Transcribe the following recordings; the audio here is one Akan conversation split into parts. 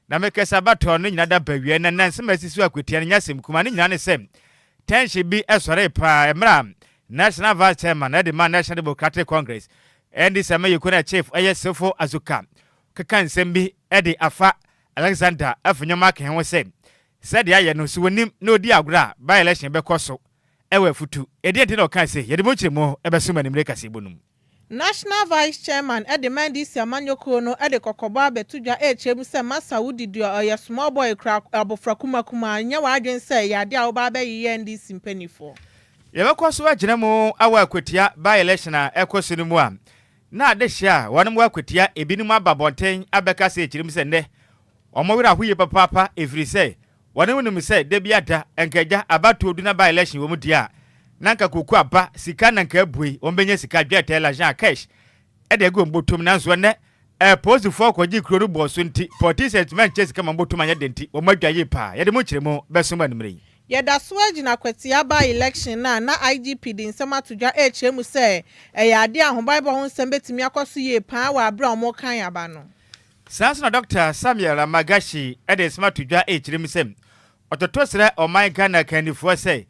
Na me kasa ba tɔɔ no nyina da bawia na na nsɛm a asisi wɔ Akwatia no nyɛ asɛm kumaa, ne nyina ne sɛ tension bi sɔree paa mmerɛ a National Vice Chairman no de maa National Democratic Congress, NDC ama yɛkuo no Chief ɛyɛ Sefo Azuka keka nsɛm bi de afa Alexander Afenyo Makin ho sɛ sɛdeɛ ayɛ no so ɔnim na ɔdi agorɔ a by-election bɛkɔ so wɔ Afutu. Ɛdeɛn nti na ɔkaa sei? Yɛde mu nkyerɛmu bɛso mo animire kaseɛbɔ no mu. National Vice Chairman de ma NDC amanyɔkuo no de kɔkɔbɔ abɛto dwa rekyerɛ mu sɛ masa wo didi a ɔyɛ small boy kura abofra kuma kuma a nyɛ w'adwene sɛ ɛyɛ adeɛ a wo ba abɛyeyɛ NDC mpaninfoɔ. Yɛbɛkɔ so agyina mu awɔ akwatia by election a ɛkɔ so no mu a na adehyeɛ a wɔnom wɔ akwatia ebinom aba abɔnten abɛka sɛ ɛkyerɛ mu sɛ nnɛ wɔn werɛ ahoyie papaapa ɛfirisɛ Wɔne wo nim sɛ da biara da, anka agya abatoɔ du na by election wɔ mu deɛ a, na anka koko aba, sika na anka abue, wɔn bɛnya sika, dwɛɛtɛ, lajan, cash de agu wɔn botom, nanso ɛnnɛ apolisifoɔ kɔgyee kuro no bɔɔ so nti, politicians antumi ankyɛ sika ma wɔn botom anyɛ den nti, wɔn adwa yie paa. Yɛde mo nkyerɛmu bɛso mo anwummerɛ yi. Yɛda so ara gyina kwatia by election no a na IGP de nsɛm ato dwa rekyerɛ mu sɛ ɛyɛ adeɛ a ahobaebɔ ho nsɛm bɛtumi akɔ so yie paa wɔ aberɛ a wɔrekan aba no. Saa nso na Dɔkta Samuel Amagashi de nsɛm ato dwa rekyerɛ mu sɛ, ɔtoto srɛ ɔman Ghana akannifoɔ sɛ,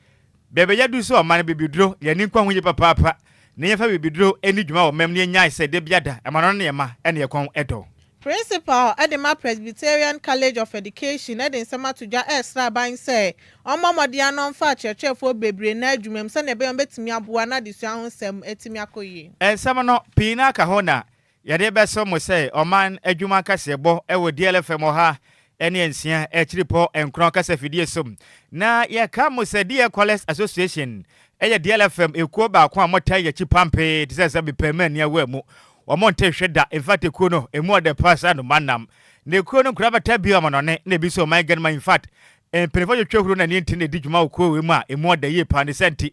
baabi a yɛaduru sɛ ɔman no bibiduro yɛ ani nkwa ho yie papaapa na yɛmfa bibiduro nni dwuma wɔ ɔman mu na yɛnnyae sɛ da biada ɛma no ne ɛma ne ɛkɔn dɔ. Principal de ma Presbyterian College of Education de nsɛm ato dwa resrɛ aban sɛ ɔmmɔ mmɔden ara na ɔmfa akyerɛkyerɛfoɔ bebree nna adwuma mu sɛdeɛ ɛbɛyɛ a wɔbɛtumi aboa na adesua ho nsɛm atumi akɔ yie. Nsɛm no, pii no ara ka ho na Yɛde bɛso mo sɛ ɔman adwuma kaseɛbɔ wɔ DLFM ɔha ne nsia akyiripɔ nkorɔn kasa fidie so. Na yɛka mo sɛ DL Callers Association yɛ DLFM ekuo baako a wɔtaa yi akyi pampee te sɛ sɛ mepɛ ma ani awu a mu wɔn nte hwe da. Infact ekuo no emu ɔdɛ paa sɛ anoma nam. Na ekuo no nkura bɛtaa bi ɔmanɔne na ebi nso ɔman ganima. Infact mpaninfoɔ twetwe huro na nie nti na edi dwuma wɔ kuo wei mu a emu ɔdɛ yie paa ne sɛ nti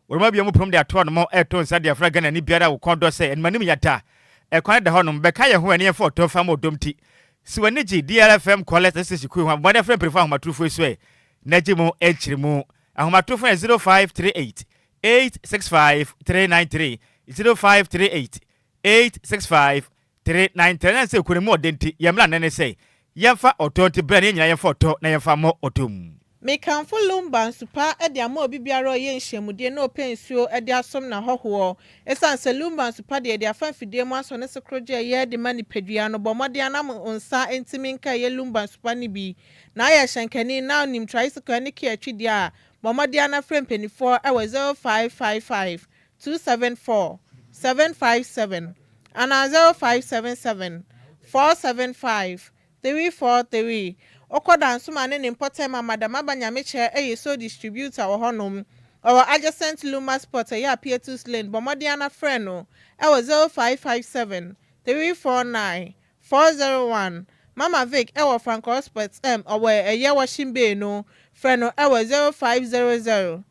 Worema wia mu prom de ato hɔ nom ɛto nsa de afra Ghanani biara a wo kɔn dɔ sɛ animanim yata ɛkwan no da hɔ nom bɛka yɛn ho ɛne yɛn fa ɔtɔ fa ma ɔdom ti si w'ani gye DRFM callers ne station kuo ho abɔmmɔden frɛ mpanyinfoɔ ahomatorofo yi so ɛ na gye mo nkyeremu ahomatorofo no yɛ zero five three eight eight six five three nine three zero five three eight eight six five Tere na ntɛnɛn nsɛ kuro no mu ɔde nti yɛn mmara nnɛ ne sɛ yɛmfa ɔtɔ nti bra na yɛn nyinaa yɛmfa ɔtɔ na yɛmfa mmɔ ɔtɔ mu. Mekamfo Lumba nsupa de ama obi biara a ɔyɛ nhyiamudie na ɔpɛ nsuo de asom n'ahɔhoɔ. Ɛsiane sɛ Lumba nsupa deɛ yɛde afa mfidie mu asɔ ne so koro gye ɛyɛ de ma nipadua no, bɔ mmɔden ara na mo nsa nti menka ɛyɛ Lumba nsupa no bi. Na ayɛ hyɛnkani na wonim tricycle ne car twi deɛ a, bɔ mmɔden ara na frɛ mpaninfoɔ wɔ 0555 two seven four seven five seven anaa zero five seven seven four seven five three four three Ɔkɔ Dansuma ne ne mpɔtam ama dɛm aba nyamekyerɛ ɛyɛ sole distributor wɔ hɔ nom ɔwɔ adjacent Luma spot ɛyɛ Apietus lane bɔ mmɔden ana frɛ no ɛwɔ zero five five seven three four nine four zero one Mama Vic ɛwɔ Francois Spot ɛm ɔwɔ ɛyɛ Washing Bay no frɛ no ɛwɔ zero five zero zero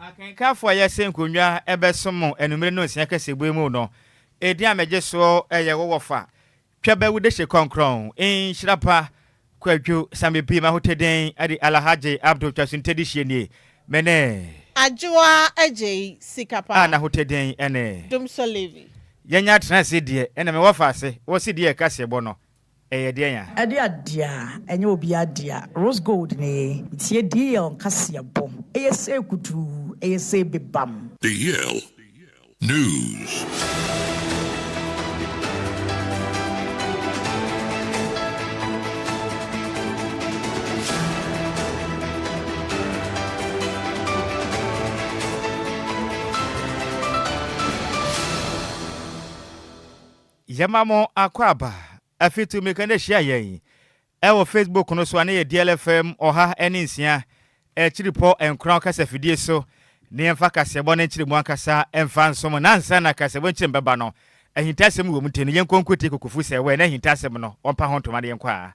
Akenkanfo a yɛasen nkonnwa bɛsom anwummere Nnɔnsia Kasebue mu no, edin a megye so yɛ wo wɔfa, Twɛbɛwu Dehye Kɔnkrɔn, Nhyira Pa, Kwadwo, Samibi, Mahoteden, Adi Alahagye Abdul Twasonte Dehyeɛ nie, me ne. Adwoa Agyei, Sika Pa. A n'ahoteden ne. Domso Levi. Yɛanya Tena Ase Deɛ na me wɔfa ase wɔ CD a ɛka Seɛbɔ no. ɛyɛ deɛn a? Ɛde adeɛ a ɛnyɛ obiara dea, rose gold ne ye, tie Deiel nkaseɛbɔ, ɛyɛ sei kutuu, ɛyɛ sei bebam. Deiel News. Yɛma mo akwaaba afi Tumika na hyia yɛn wɔ Facebook no so a na yɛ DLFM ɔha ne nsia akyiripɔ nkoran kasafidie so na yɛmfa kaseɛbɔ no nkyere mu ankasa mfa nso mo na ansa na kaseɛbɔ nkyere mu bɛba no ahintasɛm wɔ mu nti no yɛnkɔ nkuti kokofusɛwɛ na ahintasɛm no wɔmpa ho ntoma na yɛnkɔ a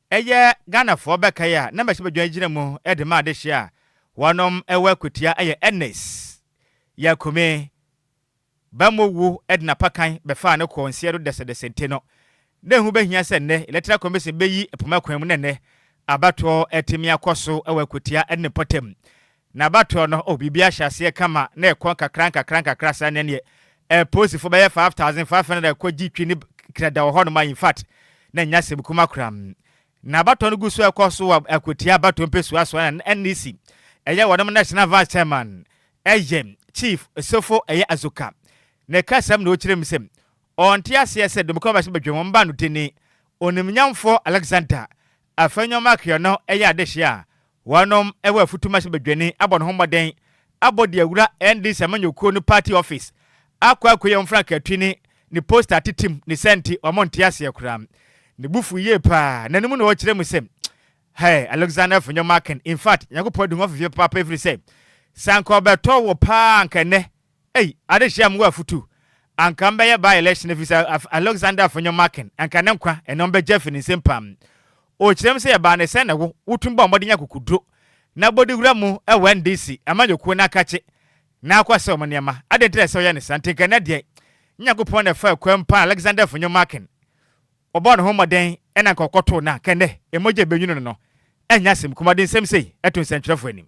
Ɛyɛ Ghanafoɔ bɛkae a na Mmarahyɛ Badwa gyina mu de ma adehyeɛ a wɔnom wɔ akutia yɛ Ernest Yakume Bammɔ wu de n'apakan bɛfaa no kɔɔ nseɛ do dɛsɛdɛsɛ nti no na ɛho bɛhia sɛ nnɛ Electoral Commission bɛyi poma kwan mu na nnɛ abatoɔ atumi akɔ so wɔ akutia ne ne mpɔtam N'abatoɔ no, oh, biribi ahyɛ aseɛ kama na ɛkɔ nkakra nkakra nkakra saa na ɛneɛ eh, polisifo bɛyɛ five thousand five hundred a ɛkɔ gye twi ne kra da wɔ hɔnom a, in fact, na ɛnyɛ asɛm kuma koraa. N'abatoɔ no gu so ɛkɔ so wɔ akwatia abatoɔ mpesua so a na NEC, ɛyɛ wɔnom National Vice Chairman, ɛyɛ, Chief, Sofo, ɛyɛ Azuka, na ɛkasam na ɔkyerɛ mu sɛ ɔnte aseɛ sɛ Domiko Abasi Badwam mma no dini, Onimnyamfoɔ Alexander Afei nneɛma akeɛ no yɛ adehye a wɔnom wɔ afutu machine badwani abɔ ne ho mmɔden abɔ de awura NDC amanyɔkuo no party office akɔ akɔyi wɔn frankaatwi ne ne poster atetem ne saa nti wɔn nte aseɛ koraa. Ne bo fuu yie paa n'anom na ɔkyerɛ mu sɛ Hey Alexander for nneɛma aken infact Nyankopɔn adi ho afifie papaapa ɛfiri sɛ sɛ anka ɔbɛtɔ wo paa anka ɛnnɛ Ei adehye a mowɔ afutu anka ɔmbɛyɛ by election efisɛ Alexander Afonyo Markin anka ne nkwa ɛna ɔmbɛgye afi ne nsam paa. Okyerɛm sɛ yɛbaa ne sɛn na wo wotumi bɔɔ mmɔden nya akokuduro na bɔdi wura mu wɔ NDC amanyɔkuo no akakye na akɔ asɛw mo nneɛma. Adɛn nti na ɛsɛ ɔyɛ ne saa? Nti nka ɛnɛ deɛ Nyankopɔn na ɛfaa kwam paa na Alexander Afonyo Markin ɔbɔɔ ne ho mmɔden ɛna anka ɔkɔtoo no a anka ɛnɛ mmogya a ɛbɛnwunu no no ɛnyɛ asɛm kumaa. Ɔde nsɛm sei to nsɛnkyerɛfoɔ anim.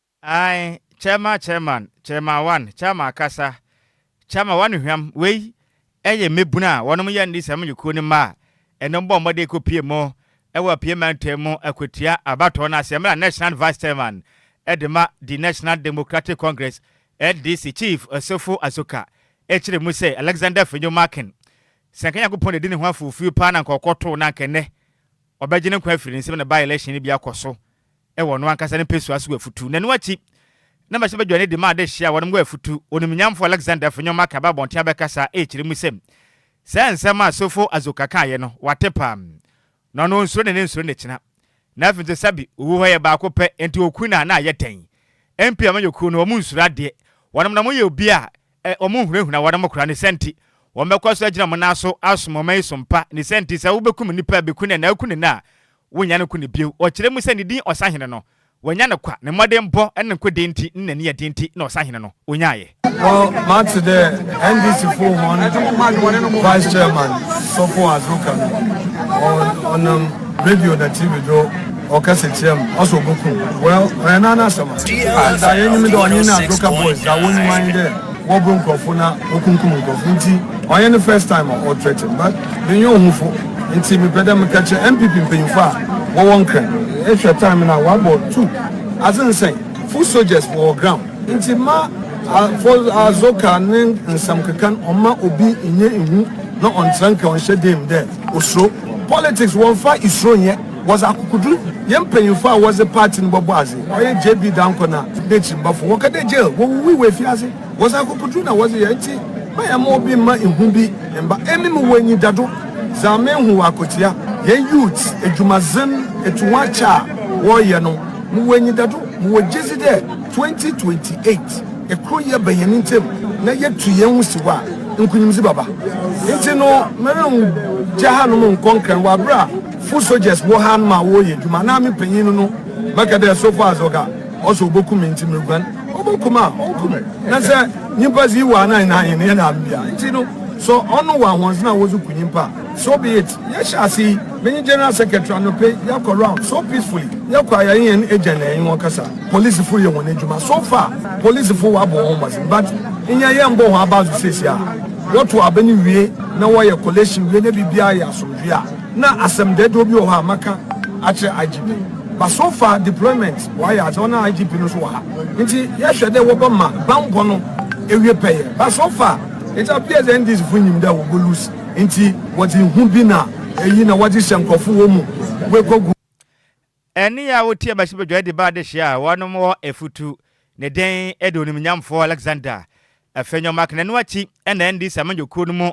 Ae, Chairman Chairman Chairman one Chairman kasa Chairman one Hwam, wei yɛ mmabunu a wɔnom yɛ Nnis amanyɔkuo no mma a ɛnom bɔɔ mmɔden kɔ pie mu wɔ Apue Mantam mu kɔtua abatoɔ no ase mmerɛ a National Vice Chairman de ma The National Democratic Congress, NDC, Chief Osofo Asoka kyerɛ mu sɛ Alexander Fenyo Markin sɛ anka Nyankopɔn na ɛdi ne ho afufuo paa na anka ɔkɔtoo na anka ɛnnɛ wɔbɛgye ne nkwa afiri ne nsam na by-election no bi akɔ so wɔ ɔno ankasa ne mpesua so wɔ afutu, na ɛno akyi na mɛhyɛ badwa no de ma adehye a wɔnom wɔ afutu. Onimnyamfo Alexander fi nneɛma akaba abɔnten abɛkasa rekyerɛ mu sɛ, Saa nsɛm a Sofo Azoka kaeɛ no, wate paa. Na ɔno ɔnsuro ne ne nsuro ne kyena. Na afei nso sɛbe owu hɔ yɛ baako pɛ, enti oku no a na ayɛ dɛn? MP ama yɛkuo no, wɔn nsuro adeɛ. Wɔnom na wɔyɛ obi a Ɛ, wɔhunahuna wɔn mo kora, ne sa nti, wɔbɛkɔ so agyina mo nan so asom ɔman yi so mpa, ne sa nti, sɛ wobɛkum nnipa a bɛku no ɛnaa ku no nnɛ a, wonnya no ku no bio. Wɔkyerɛ mu sɛ ne din ɔsahene no, wanya no kwa, ne mmɔdenbɔ ne ne nkodee nti ne n'ani ɛden nti na ɔsahene no, ɔnyaaeɛ. Well, mate dɛ NDC foɔ hɔn vice chairman Sɔfo Azoka no ɔ ɔnam radio na TV do Ɔkɛse kyerɛ me, ɔse oboku me. Well, ɔyɛ naa n'asɛm. Ah, dza yenyim dɛ ɔnye n'adwoka boys dza wonyim ara nye dɛ wɔbor nkorɔfo na wokumkum nkorɔfo ntsi ɔnnyɛ ne first time a ɔthreaten but mennyɛ ohufo ntsi mepɛ dɛ meka kyerɛ NPP mpanyimfo a wɔwɔ Nkran. Ehwɛ time no a wɔabɔ two adze nsɛn, full soldiers wɔwɔ ground ntsi mma Adwoka ne nsɛm keka no ɔmma obi nnyɛ ehu na ɔnntsera nka ɔnnhyɛ dan mu dɛ osuro. Politics wɔmmfa isuro nnyɛ. Wɔdze akokodur yɛ mpanyimfo a wɔdze party no bɔbɔ adze. Ɔyɛ JB Dankwa na n'ekyirmbafo. Wɔka dɛ jail, wowuwui wɔ efiadze. Wɔdze akokodur na wɔdze yɛ ntsi mɛyɛma obi mma ihu bi mmba. Emi mowɔ enyidado dza mehu wɔ akotsia hɛn youths edwumadzen etuhoakyɛ a wɔreyɛ no. Mowɔ enyidado, mowɔ gyedzi dɛ twenty twenty eight ekroyɛ ba hɛn ntamu na yetu hɛnho si hɔ a nkunyimdzi bɛba. Ntsi no merenngya hanom nnkɔ nkrɛn wɔ aber a. Foot soldiers wɔ ha no ma wɔyɛ edwuma na me panyin no no bɛka dɛ so far as ɔka ɔse oboku me ntsi meruguan, oboku me a ɔnku me na sɛ nyimpa dze iwɔ anan na ahen yɛ na mbea ntsi no sɔ ɔno wɔ ahoɔdzen a wɔdze ku nyimpa a so be it. Yɛhyɛ ase yi, menye General Secretary anope yɛakɔ round so peacefully, yɛkɔ a yɛnye hɛn egya na yɛnye hɔn kasa, polisifo reyɛ hɔn edwuma so far, polisifo wɔabɔ hɔnho mbɔdzen but nyɛ yɛmmbɔ hɔn abaw dze siesiaa, wɔtow aba no wie na wɔyɛ collation wie na biribiara yɛ asomdwee a. Na asɛm dɛdɛw bi wɔ hɔ a maka akyerɛ IGP but so far deployment wɔayɛ adze ɔno a IGP no so wɔ ha ntsi yɛhwɛ dɛ wɔbɛma banbɔ no ewie pɛyɛ but so far it appears dɛ NDC fo nyim dɛ wɔbɔ lose ntsi wɔdze hu bi na eyi na wɔdze hyɛ nkorɔfo wɔ mu wekɔ gu Ɛnne a wotiee Bathsheba dwan de baa adehye a wɔnom hɔ afutu ne dɛn de onimnyamfo Alexander afi nyoma aka. Ɛno akyi na NDC amanyɔkuo no mu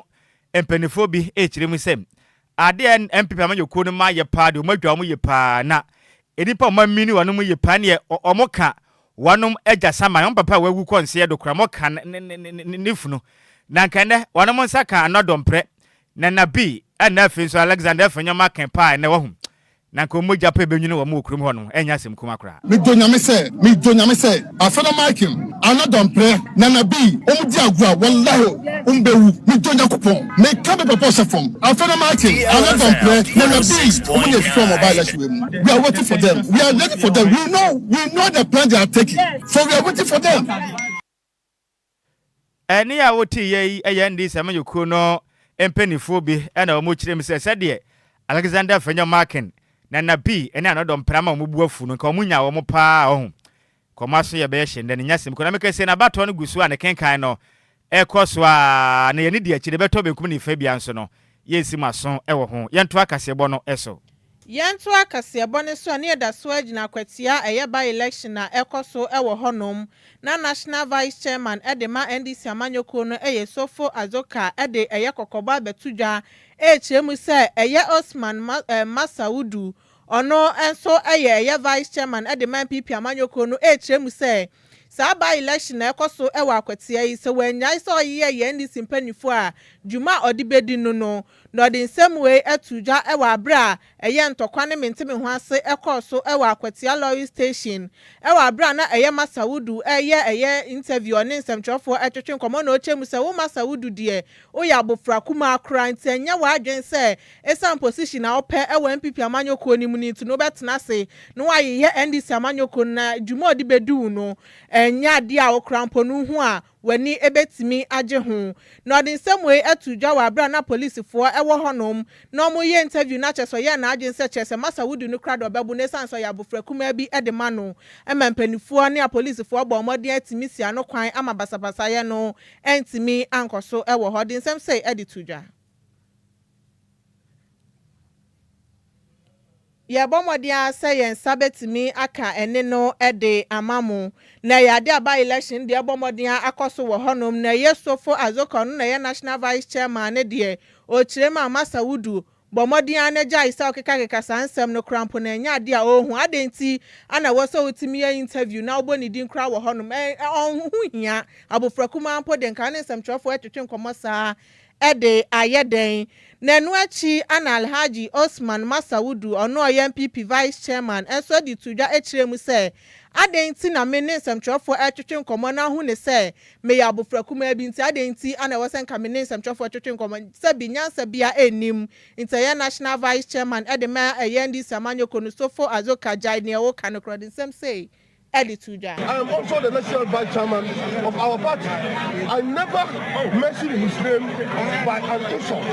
mpaninfoɔ bi rekyerɛ mu sɛ, ade a NPP amanyɔkuo no mma yɛ paa deɛ wɔadwa wɔn yie paa na nnipa a wɔamini wɔn mu yie paa ne deɛ wɔka wɔnom agya saman, wɔn papa a wawu kɔ nseɛ do koraa, wɔka ne funu. Na anka ɛnnɛ wɔnom nsa ka Anna Domprɛ, Nana Bee ɛna afei nso Alexander afi nyoma aka paa ɛnnɛ wahu Na nka wɔn mogya pɛ bɛnwini wɔn wɔ kurom hɔ no, ɛrenyɛ asɛm kumaa koraa. Me dɔ Nyame sɛ me dɔ Nyame sɛ Afena Michael, Anna Domprɛ, Nana B wɔn di agorɔ a wallahi wɔn bɛ wu me dɔ Nyakopɔn me ka me papa ɔhyɛ fam Afena Michael, Anna Domprɛ, Nana B wɔn na efira wɔn aba election wɛ mu we are waiting for them we are ready for them we know we know the plan they are taking so we are waiting for them. Ɛnne a woteeɛ yi yɛ nne sɛ manyɛ kuo no mpaninfoɔ bi na wɔkyerɛ mu sɛ sɛdeɛ Alexander Fenyo Markin, Nana Bi ne Anɔdɔ Mprama a wɔn bo afu no nka wɔn nyaa wɔn pa ara ɔho. Nka wɔn aso yɛ bɛyɛ hyɛndɛ. Ne nyasɛm kura me kɛseɛ. N'abatoɔ no gu so a ne kenkan no kɔ so ara na yɛne di akyire bɛtɔ benkum ne fabia nso no Yɛnsi mo aso wɔ ho. Yɛntoa kaseɛbɔ no so. Yɛntoa kaseɛbɔ no so a ne yɛda so agyina akwatia a ɛyɛ by election a ɛkɔ so wɔ hɔ nom na National Vice Chairman de ma NDC amanyɔkuo no yɛ Sofo Azoka de ɛyɛ kɔkɔbɔ abɛto dwa ɛrekyerɛ mu sɛ ɛyɛ Osman Masaudu Ɔno nso yɛ yɛ vice chairman de ma NPP amanyɔkuo no rekyerɛ mu sɛ saa by election a ɛkɔ so wɔ Akwatia yi sɛ wannyae sɛ ɔyeyɛ yɛ NDC mpaninfoɔ a dwuma a ɔde bɛdi no no na ɔde nsɛm wei ato dwa wɔ aberɛ a ɛyɛ ntɔkwa ne mentemeho ase ɛkɔɔ so wɔ Akwatia lorry station wɔ aberɛ a na ɛyɛ Massa Wudu reyɛ ɛyɛ interview ɔne nsɛmtwerɛfoɔ retwetwe nkɔmmɔ na ɔkyerɛ mu sɛ wo Massa Wudu deɛ Woyɛ abofra kumaa koraa nti ɛnyɛ w'adwene sɛ esiane position a wopɛ wɔ NPP amanyɔ kuo no mu no nti no wobɛtena ase na woayeyɛ NDC amanyɔ kuo no na dwuma a ɔde bɛdi wo no ɛnyɛ adeɛ a wo koraa mpo no wohu a w'ani bɛtumi agye ho. Na ɔde nsɛm wei too dwa wɔ aberɛ a na polisifoɔ wɔ hɔnom na wɔreyɛ interview na kyerɛ sɛ ɔyɛɛ n'adwene sɛ kyerɛ sɛ masa wodi no koraa deɛ ɔbɛbo no esiane sɛ ɔyɛ abofra kumaa bi de ma no ma mpaninfoɔ ne apolisifoɔ bɔɔ mmɔden atumi sia no kwan ama basabasayɛ no Antumi ankɔ so wɔ hɔ de nsɛm sei de to dwa. Yɛrebɔ mmɔden ara sɛ yɛn nsa bɛtumi aka ɛnne no de ama mo. Na ɛyɛ adeɛ a by-election deɛ ɛrebɔ mmɔden ara akɔ so wɔ hɔnom. Na ɛyɛ Sopho Adzokor, ɔno na ɛyɛ National Vice Chairman no deɛ, ɔkyerɛm a Massa Wodu, Bɔ mmɔden ara na gyae sɛ wokekakeka saa nsɛm no koraa mpo na ɛnyɛ ade a ɔrehu. Adɛn nti ara na ɛwɔ sɛ wotumi yɛ interview na wobɔ ne din koraa wɔ hɔnom? Ɛ, ɛ, ɔho ho hia. Abofra kumaa mpo de, nka wo ne nsɛmtwerɛfoɔ retwetwe nkɔmmɔ saa ara de, ayɛ dɛn? Na ɛno akyi ara na Alhaji Osman Massa Wudu, ɔno a ɔyɛ NPP Vice Chairman, nso de too dwa kyerɛɛ mu sɛ, Adɛn nti na me ne nsɛmtwerɛfoɔ retwetwe nkɔmmɔ na ahu ne sɛ Meyɛ abofra kumaa bi, nti adɛn nti na ɛwɔ sɛ nka me ne nsɛmtwerɛfoɔ twetwe nkɔmmɔ? Sɛbi, nyansa biara nnim, nti ɛyɛ National Vice Chairman de ma ɛyɛ NDC amanyɔkuo no, Sopho Azoka Gyae deɛ woka no korɔ de nsɛm sei de to dwa. I am also the National Vice Chairman of our party, I never mentioned his name by an insult,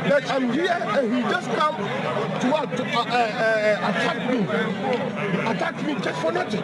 but I'm here and he just come to what, uh, uh, uh, attack me, attack me just for nothing.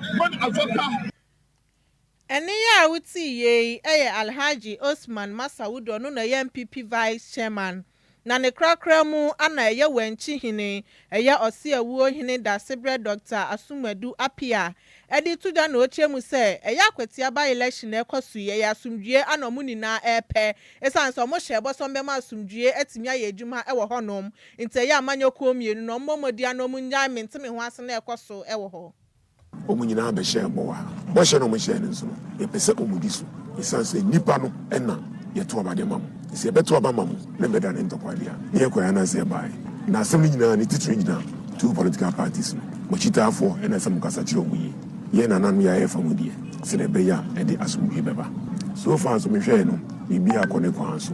Ɔn afa ka. Ɛne yɛ a wo tee yei yɛ Alhaji Osman Masaud ɔno na ɛyɛ NPP Vice Chairman na ne korakora mu ana ɛyɛ Wankyi Hene ɛyɛ Ɔseawuo Hene Dasebrɛ Doctor Asumadu Appiah ɛde to dwa na ɔkyerɛ mu sɛ ɛyɛ akwatia by election na ɛkɔ so yi ɛyɛ asomdwie ana ɔmo nyinaa ɛɛpɛ ɛsiane sɛ ɔmo hyɛɛ bɔ sɛ ɔmo bɛma asomdwie atumi ayɛ adwuma ɛwɔ hɔ nom nti ɛyɛ amanyɔkuo mmienu no ɔmo mmɔ mmɔdi ana ɔmo nnyae mentemeho asɛm na ɛkɔ so ɛwɔ hɔ Wɔn nyinaa bɛhyɛɛ bɔ a bɔhyɛ no a wɔhyɛɛ no nso no, yɛpɛ sɛ wɔdi so, esiane sɛ nnipa no na yɛto aba de ma mo. Sɛ yɛbɛto aba ama mo na ɛbɛda ne ntɔkwaw de a, na yɛkɔe anaasɛ yɛbae? Ná asɛm no nyinaa ne titiriw gyina two political parties no. Mo akyitaafo na ɛsɛ sɛ mokasa kyerɛ wɔn yiye. Yɛn nananom yɛ a yɛfa mu deɛ, sɛnea ɛbɛyɛ a ɛde asomdwoe bɛba. So far nso mehwɛe no, biribiara kɔ ne kwan so.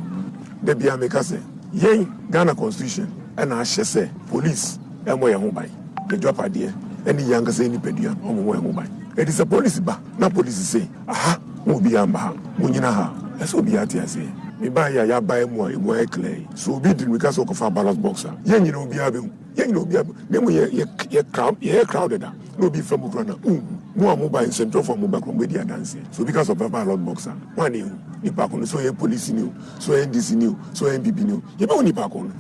Da biara meka sɛ, Yɛn, Ghana Constitution na ahyɛ sɛ Police mmɔ yɛn ho ban. n'agyapadeɛ ne yɛn ankasa yɛn nipadua ho ho ho ban. Ɛti sɛ polisi ba na polisi se, Aha, mo obiara mma ha, monnyina ha. Ɛsɛ sɛ obiara te aseɛ. Me baa yi a yɛabae mu a emu ayɛ klɛɛ yi, sɛ obi di mmirika sɛ ɔrekɔfa ballot box a, yɛn nyinaa obiara bɛhu. Yɛn nyinaa obiara bɛhu. Na mmom yɛ, yɛ, yɛ crowd, yɛyɛ crowded a, na obi fa mu koraa na wonhu. Mo a mobae, nsɛntwerɛfoɔ a mobae koraa, mobɛdi adanseɛ. Sɛ obi ka sɛ ɔbɛfa ballot box a, hwan na yɛhu? Nipa ko no. Sɛ ɔyɛ polisini o, sɛ ɔyɛ NDCni o, sɛ ɔyɛ NPPni o, yɛbɛhu nipa ko no.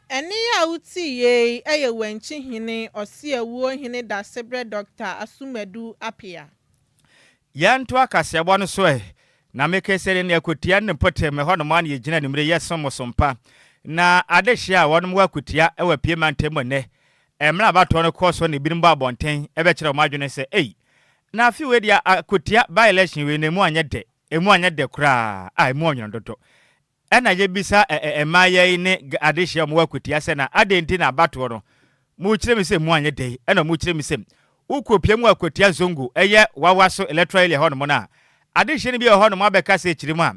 Ɛnne yi a wotiiɛ yi yɛ Wankye Hene Ɔseawuo Hene Dasebrɛ Dɔkta Asumadu Apea. Yɛnto akaseɛbɔ no so ɛ, Na me keseri ne akotia ne mpote me hɔ nom a na yɛgyina anwummere yɛsom mo som pa. Na adehyeɛ a wɔnom wɔ akotia wɔ apue mantam mu nnɛ. Mmerɛ abatoɔ no kɔ so na ebinom bɔ abɔnten bɛkyerɛ wɔn adwene sɛ ei, na afe wei deɛ akotia by-election wei no emu anyɛ dɛ, emu anyɛ dɛ koraa, ah emu ɔnwono dodo. Ɛna yɛbisa ɛɛ mmayewa yi ne gɛ adehyɛ a wɔwɔ akwatia sɛ, Na adɛn nti na abatoɔ no, mokyerɛ mu sɛ mu anyɛ dɛ? Ɛna wɔkyerɛ mu sɛ, Wokɔpia mu akwatia Zongo, ɛyɛ Wawaso electoral area hɔnom no a, adehyeɛ no bi wɔ hɔnom abɛka sɛ kyerɛ mu a,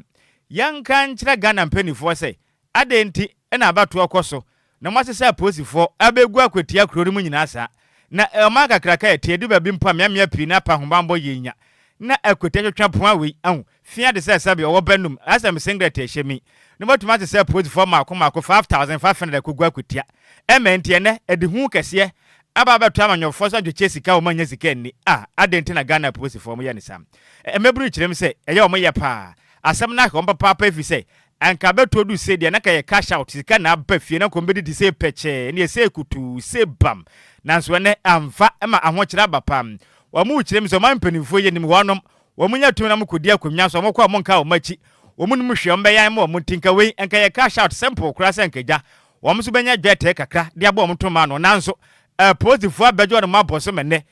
yɛnka nkyerɛ Ghana mpaninfoɔ sɛ, adɛn nti na abatoɔ kɔ so Na moate sɛ apolisifoɔ abɛgu akwatia kuro no mu nyinaa saa. Na ɔman kakraka a ɛteɛ, ɛdu baabi mpo a mmeammea pii na apa ahobammɔ yie nya. Na akwatia twetwe poa wei, ahu, fia te sɛ sɛbe ɔwɔ bɛ nom, ayɛ sɛ me singlet a ɛhyɛ me yi. Na moatumi ate sɛ apolisifoɔ mmaako mmaako, five thousand five hundred akɔgu akwatia. Ɛmma ɛnti ɛnnɛ, ɛde hu kɛseɛ aba abɛto amanyɔfoɔ so adwekyɛ sika a wɔn annya sika anni. Ah, adɛn nti na Ghana apolisifoɔ wɔyɛ no saa? Mmabunu kyerɛ mu sɛ ɛyɛ wɔn yɛ pa ara. Asɛm no ahwɛ wɔn papaapa ɛfiri sɛ Anka bɛtɔ du se deɛ na ka yɛ cash out sika na aba fie na nkɔm bɛdidi se pɛkyɛɛ ɛneɛ se kutuu se bam nanso ɛnɛ amfa ɛma ahokyerɛ aba pa wɔn rekyerɛ mi se ɔman mpaninfoɔ yɛ nim wɔnom wɔn nya tumi na wɔn kɔdi akonwa so wɔn kɔ a wɔn nka wɔn akyi wɔn nim hwee wɔn bɛyɛ ama wɔn nti nka wei nka yɛ cash out simple koraa sɛ nka gya wɔn nso bɛnya dwɛtɛɛ kakra de abɔ wɔn toma ano nanso apolisifoɔ abɛgye wɔnom abɔ so mɛnɛ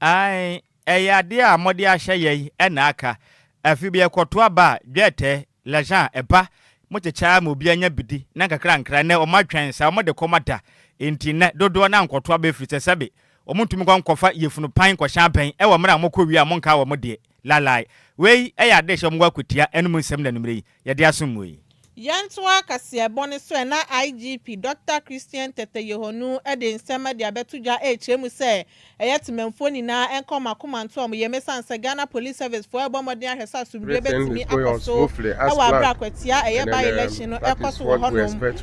Aane, ɛyɛ adeɛ a mode ahyɛ yɛn na aka. Afi bi ɛkɔto aba a, dwɛɛtɛ, l'argent, ɛba. Mokyekyɛ ara ma obiara nya bi di, na nkakrankra, nnɛ wɔatwɛn saa, wɔde kɔm ada. Enti nnɛ, dodoɔ no ara nkɔto aba ɛfiri sɛ, sɛbe, wɔntumi nkɔ nkɔfa yefunu pan nkɔhyɛ abɛn wɔ mmerɛ a mokɔ wie a monkaa wɔn deɛ. Lalai. Wei yɛ ade a ɛhyɛ wɔn akwatia anom nsɛm na anwummere yi yɛde asom mu yi. Yɛntoa kaseɛbɔ no so ɛna IGP Dɔkta Christian Tetteh Yohonu de nsɛmma de abɛto dwa rekyerɛ mu sɛ ɛyɛ Temanfoɔ nyinaa nkɔ mo akoma nto wɔn yam ɛsiane sɛ Ghana Police Service foɔ rebɔ mmɔden ahwɛ sɛ asomdwoeɛ bɛtumi akɔ so wɔ aberɛ a kwatia a ɛyɛ by-election no rekɔ so wɔ hɔnom.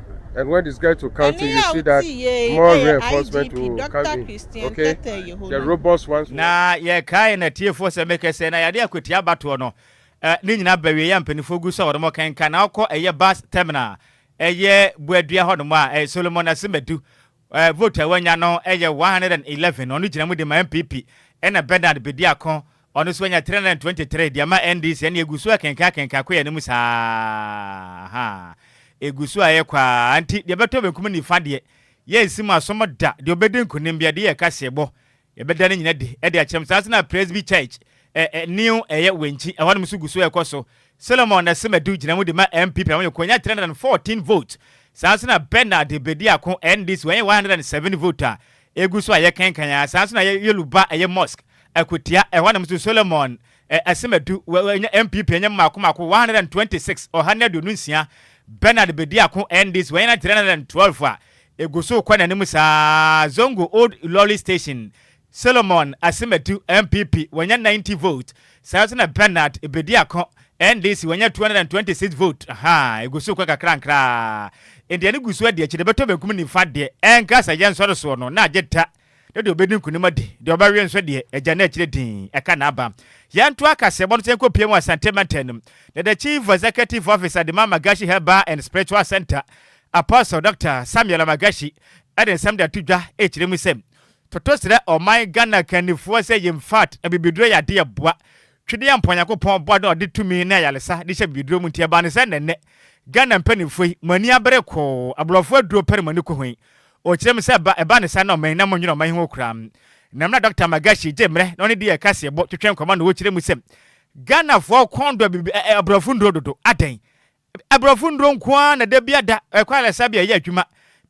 And when this guy to counting, you see that more reinforcement will come in. Okay? The robust ones. Na yɛkae na tiefoɔ sɛ mekɛ sɛ na yɛade akwati abatoɔ no ne nyinaa bawie yɛ mpanimfoɔ gu so a wɔnom kɛnka na ɔkɔ ɛyɛ bus terminal ɛyɛ Buadua hɔnom a ɛyɛ Solomon Asimadu Eh, vote a wanya no yɛ one hundred and eleven, ɔno gyina mu de ma NPP, ɛna Bernard Bediako, ɔno nso anya three hundred and twenty three de ama NDC, ɛnneɛ ɛgu so akenkan akenkan kɔ yɛn anim saa ara, ha, ɛgu so ara ɛrekɔ ara, nti deɛ ɛbɛtɔ benkum ne nifa deɛ, yɛrensi mu asom da, deɛ ɔbɛdi nkunim biara, deɛ yɛ kaseɛbɔ, Yɛbɛda ne nyina adi de akyerɛ mo. Saa nso na Presby Church, ɛ, ɛ, new ɛyɛ Wenchi, ɛhɔnom nso gu so ɛkɔ so. Solomon Nasemadu gyina mu de ma NPP na wɔyɛ konya 314 vote. Saa nso na Bernard Bediako, NDC, wɔnyɛ 107 vote a ɛgu so a yɛkenkan ara. Saa nso na ɛyɛ Yoluba ɛyɛ mosque, Akwatia, ɛhɔnom nso Solomon, ɛ, Asemadu, wɔ, wɔ, nya NPP ɛnyɛ mmaako mmaako 126, ɔha ne aduonu nsia. Bernard Bediako, NDC, wɔnyɛ 312 a Egu so rekɔ n'anim saa ara, Zongo Old Ilori Station, Solomon Asemadu, NPP, wanya 90 vote. Saa ara nso na Bernard Ebediako, NDC, wanya 226 vote. Ahaa, egu so rekɔ nkakrankra ara. Ndeɛ no gu so adi akyire, bɛtɔ benkum nifa deɛ, ɛnka sɛ yɛnsɔre soɔ no, na agye ta. na deɛ ɔbɛdi nkunim adi, deɛ ɔbɛwe nso deɛ, agya no akyire dinn ɛka n'aba. Yɛnto akaseɛbɔ no sɛ yɛnkɔpue mu Asante Mantam no mu, na the Chief Executive Officer Adema Magashi Herbal and Spiritual Centre, Apostle Doctor Samuel Magashi de nsɛm de ato dwa rekyerɛ mu sɛ, Toto srɛ ɔman Ghana kannifoɔ sɛ yɛmfat abibiduro yɛ adeɛ ɛboa, twedeɛ mpo a Nyankopɔn bɔɔ na ɔde tumi ne ayaresa de hyɛ abibiduro mu nti ɛbaa no sɛ na nnɛ Ghana mpaninfoɔ yi mo ani abere koo, aborɔfoɔ aduro pɛ na mo ani kɔ ho yi, Ɔkyerɛɛ me sɛ ɛba ɛba ne saa na ɔman na monnwene ɔman ho koraa. Nam na Dɔkta Magashi gye mmerɛ na ɔne dii ɛkaseɛbɔ twetwɛɛ nkɔmmɔ na ɔkyerɛɛ mu sɛ Ghanafoɔ kɔn dɔ bib ɛ ɛ aborɔfo nnuro dodo. Adɛn? Aborɔfo nnuro nko ara na da biara da ɛkɔ ayaresa bi a ɛyɛ adwuma.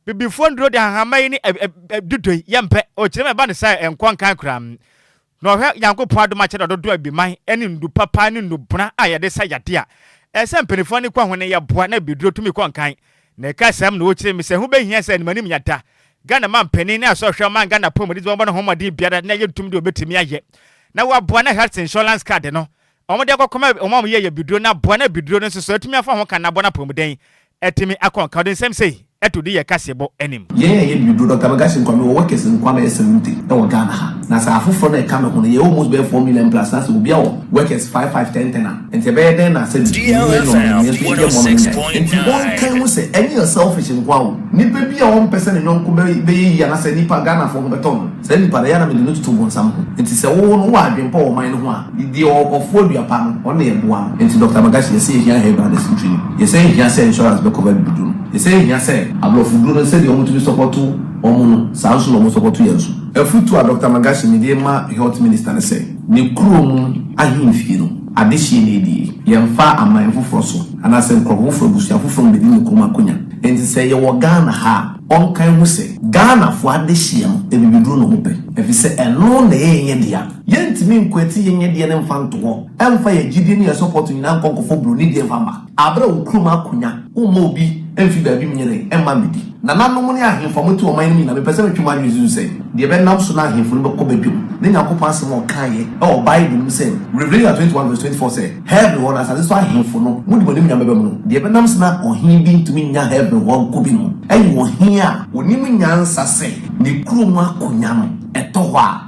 Bibifoɔ nnuro de ahahamma yi ne ɛ ɛ ɛ dudo yi yɛmpɛ. Ɔkyerɛɛ me ɛba ne saa a ɛnkɔ nkan koraa. Na ɔhwɛ Nyankopɔn adom akyɛdɛ dodoɔ a biman ne ndu papa ne nnubona a yɛde sa yadeɛ a ɛsɛ mpaninfoɔ ano kɔ ho no yɛ boa na biduro tumi kɔ nkan. Na ɛka saa mu na ɔkyerɛ mu sɛ ɛho bɛhia sɛ animanim yɛda Ghana manpanin ne asɔhwɛ a ɔman Ghana apɔmuden dze wɔbɔ no homɔden biara na yɛntum deɛ ɔbɛtumi ayɛ na waboa na health insurance card no Wɔde akɔkɔ ma wɔn a wɔyɛ yɛ biduro na boa na biduro no nso so atumi afa ho ka na boa na apɔmuden atumi akɔ nka ɔde nsɛm sei to di yɛ kaseɛbɔ anim. Yɛn a yɛyɛ biduro, Doctor Megashe Nkwame wɔ Workers Nkwa bɛyɛ Salute wɔ Ghana ha. Na sɛ afoforɔ no a ɛka me ho no yɛ almost bɛyɛ four million plus na sɛ obia wɔ Workers five five ten ten a nti ɛbɛyɛ dɛn na sɛbi menim yɛ nneɛma na nso yɛyɛ mmɔ no menya yɛ. Nti wɔnkae ho sɛ ɛnyɛ selfish nko ara o, nipa bi a ɔmpɛ sɛ ne yɔnko bɛyɛ yie anaa sɛ nipa Ghanafoɔ ho bɛtɔ no saa nipa no ɛyɛ a na mede no toto bonsam ho. Nti sɛ wo no wowɔ adwempa wɔ ɔman no ho a, Deɛ ɔwɔ kɔfoɔ dua pa no, ɔno na yɛboa no. Enti Doctor Magashi, yɛse yɛhia Hare Brothers ntwi no. Yɛsan nhia sɛ insurance bɛ cover abibiduro no. Yɛsan nhia sɛ. Aborɔfo duro no sɛdeɛ wɔtumi sɔpɔto wɔn no, saa nso na wɔsɔpɔto yɛn nso. Afutuo a Doctor Magashi mede rema Health Minister ne sɛ, ne kuro mu ahemfie no, adehyeɛ na ɛdi yi. Yɛmfa aman foforɔ so, anaasɛ nkurɔfo foforɔ, abusua foforɔ mmɛdi ne kurom akonya. Enti sɛ yɛwɔ Ghana ha a, ɔnka nhu sɛ. Ghanafoɔ adehyeɛ no, abibiduro na wɔpɛ. Ɛfiri sɛ ɛno na ɛyɛ yɛn dea. Yɛntumi nkwati yɛn yɛdeɛ no mfa nto hɔ, ɛmfa yɛn gyidie ne yɛn support nyinaa nkɔ nkɔfɔ broni deɛ mfa mma. Aberɛ a okurom akonya, womma obi mfi baabi mnyere mma mmɛdi. Nananom ne ahemfo a mote wɔn man no mu nyinaa, mepɛ sɛ metwe mo adwene susu sɛ, deɛ ɛbɛnam so na ahemfo no bɛkɔ badwam, ne Nyankopɔn asɛm a ɔkaeɛ wɔ Bible no mu sɛ, Revelation 21 vs 24 sɛ, Heaven hɔ no, asase so ahemfo no, mode mo animuonyam bɛba mu no, deɛ ɛbɛnam so na ɔhene bi ntumi nnya Heaven hɔ nkɔ bi no, ɛyɛ ɔhene a, ɔnim nyansa sɛ, ne kurom akonya no, ɛtɔ hɔ a,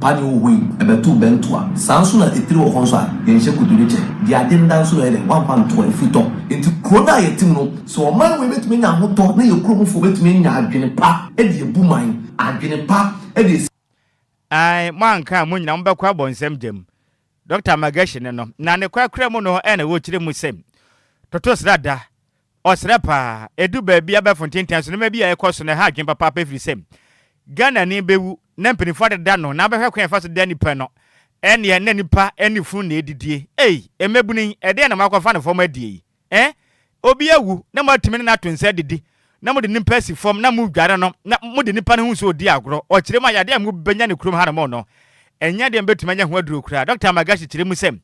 Padi o hoi, ɛbɛtow bɛ ntoa. Saa nso na etire wɔ hɔ nso a, yɛnhyɛ kotodwe kyɛ. Deɛ ade nda nso na ɔyɛ dɛ, wamfa ntoa, efi tɔ. Enti kuro no a yɛte mu no, sɛ ɔman wei bɛtumi anya ahotɔ na yɛn kurom foɔ bɛtumi anya adwene pa de abu man, adwene pa de asi. Ae, mo anka a mo nyinaa mo bɛkɔ abɔ nsɛm gya mu. Doctor Magashine no, na ne kwakura mu no ɛna ɔkyerɛ mu sɛ, Toto srada, Ɔsrɛ paa. Edu baabi a abɛɛfo nte ntɛn so nneɛma bi a ɛkɔ so na ɛha adwene papaapa efisɛ Ghanani bewu na mpanyimfo adeda no na abɛhwɛ kwan a yɛfa so da nnipa no. Ɛnneɛ na nnipa ne funu na edidie. Ei! Mmabunu yi, ɛdeɛn na moakɔfa no fam adie yi? Ɛɛ? Obi awu na moatumi ne no ato nsa adidi na mode nnipa asi fam na modware no na mode nnipa no ho nsuo redi agorɔ. Ɔkyerɛ mu a, yadeɛ a mobɛnya no kurom hanom no, ɛnyɛ adeɛ a mobɛtumi anya ho aduro koraa. Dɔkta Magashi kyerɛ mu sɛ,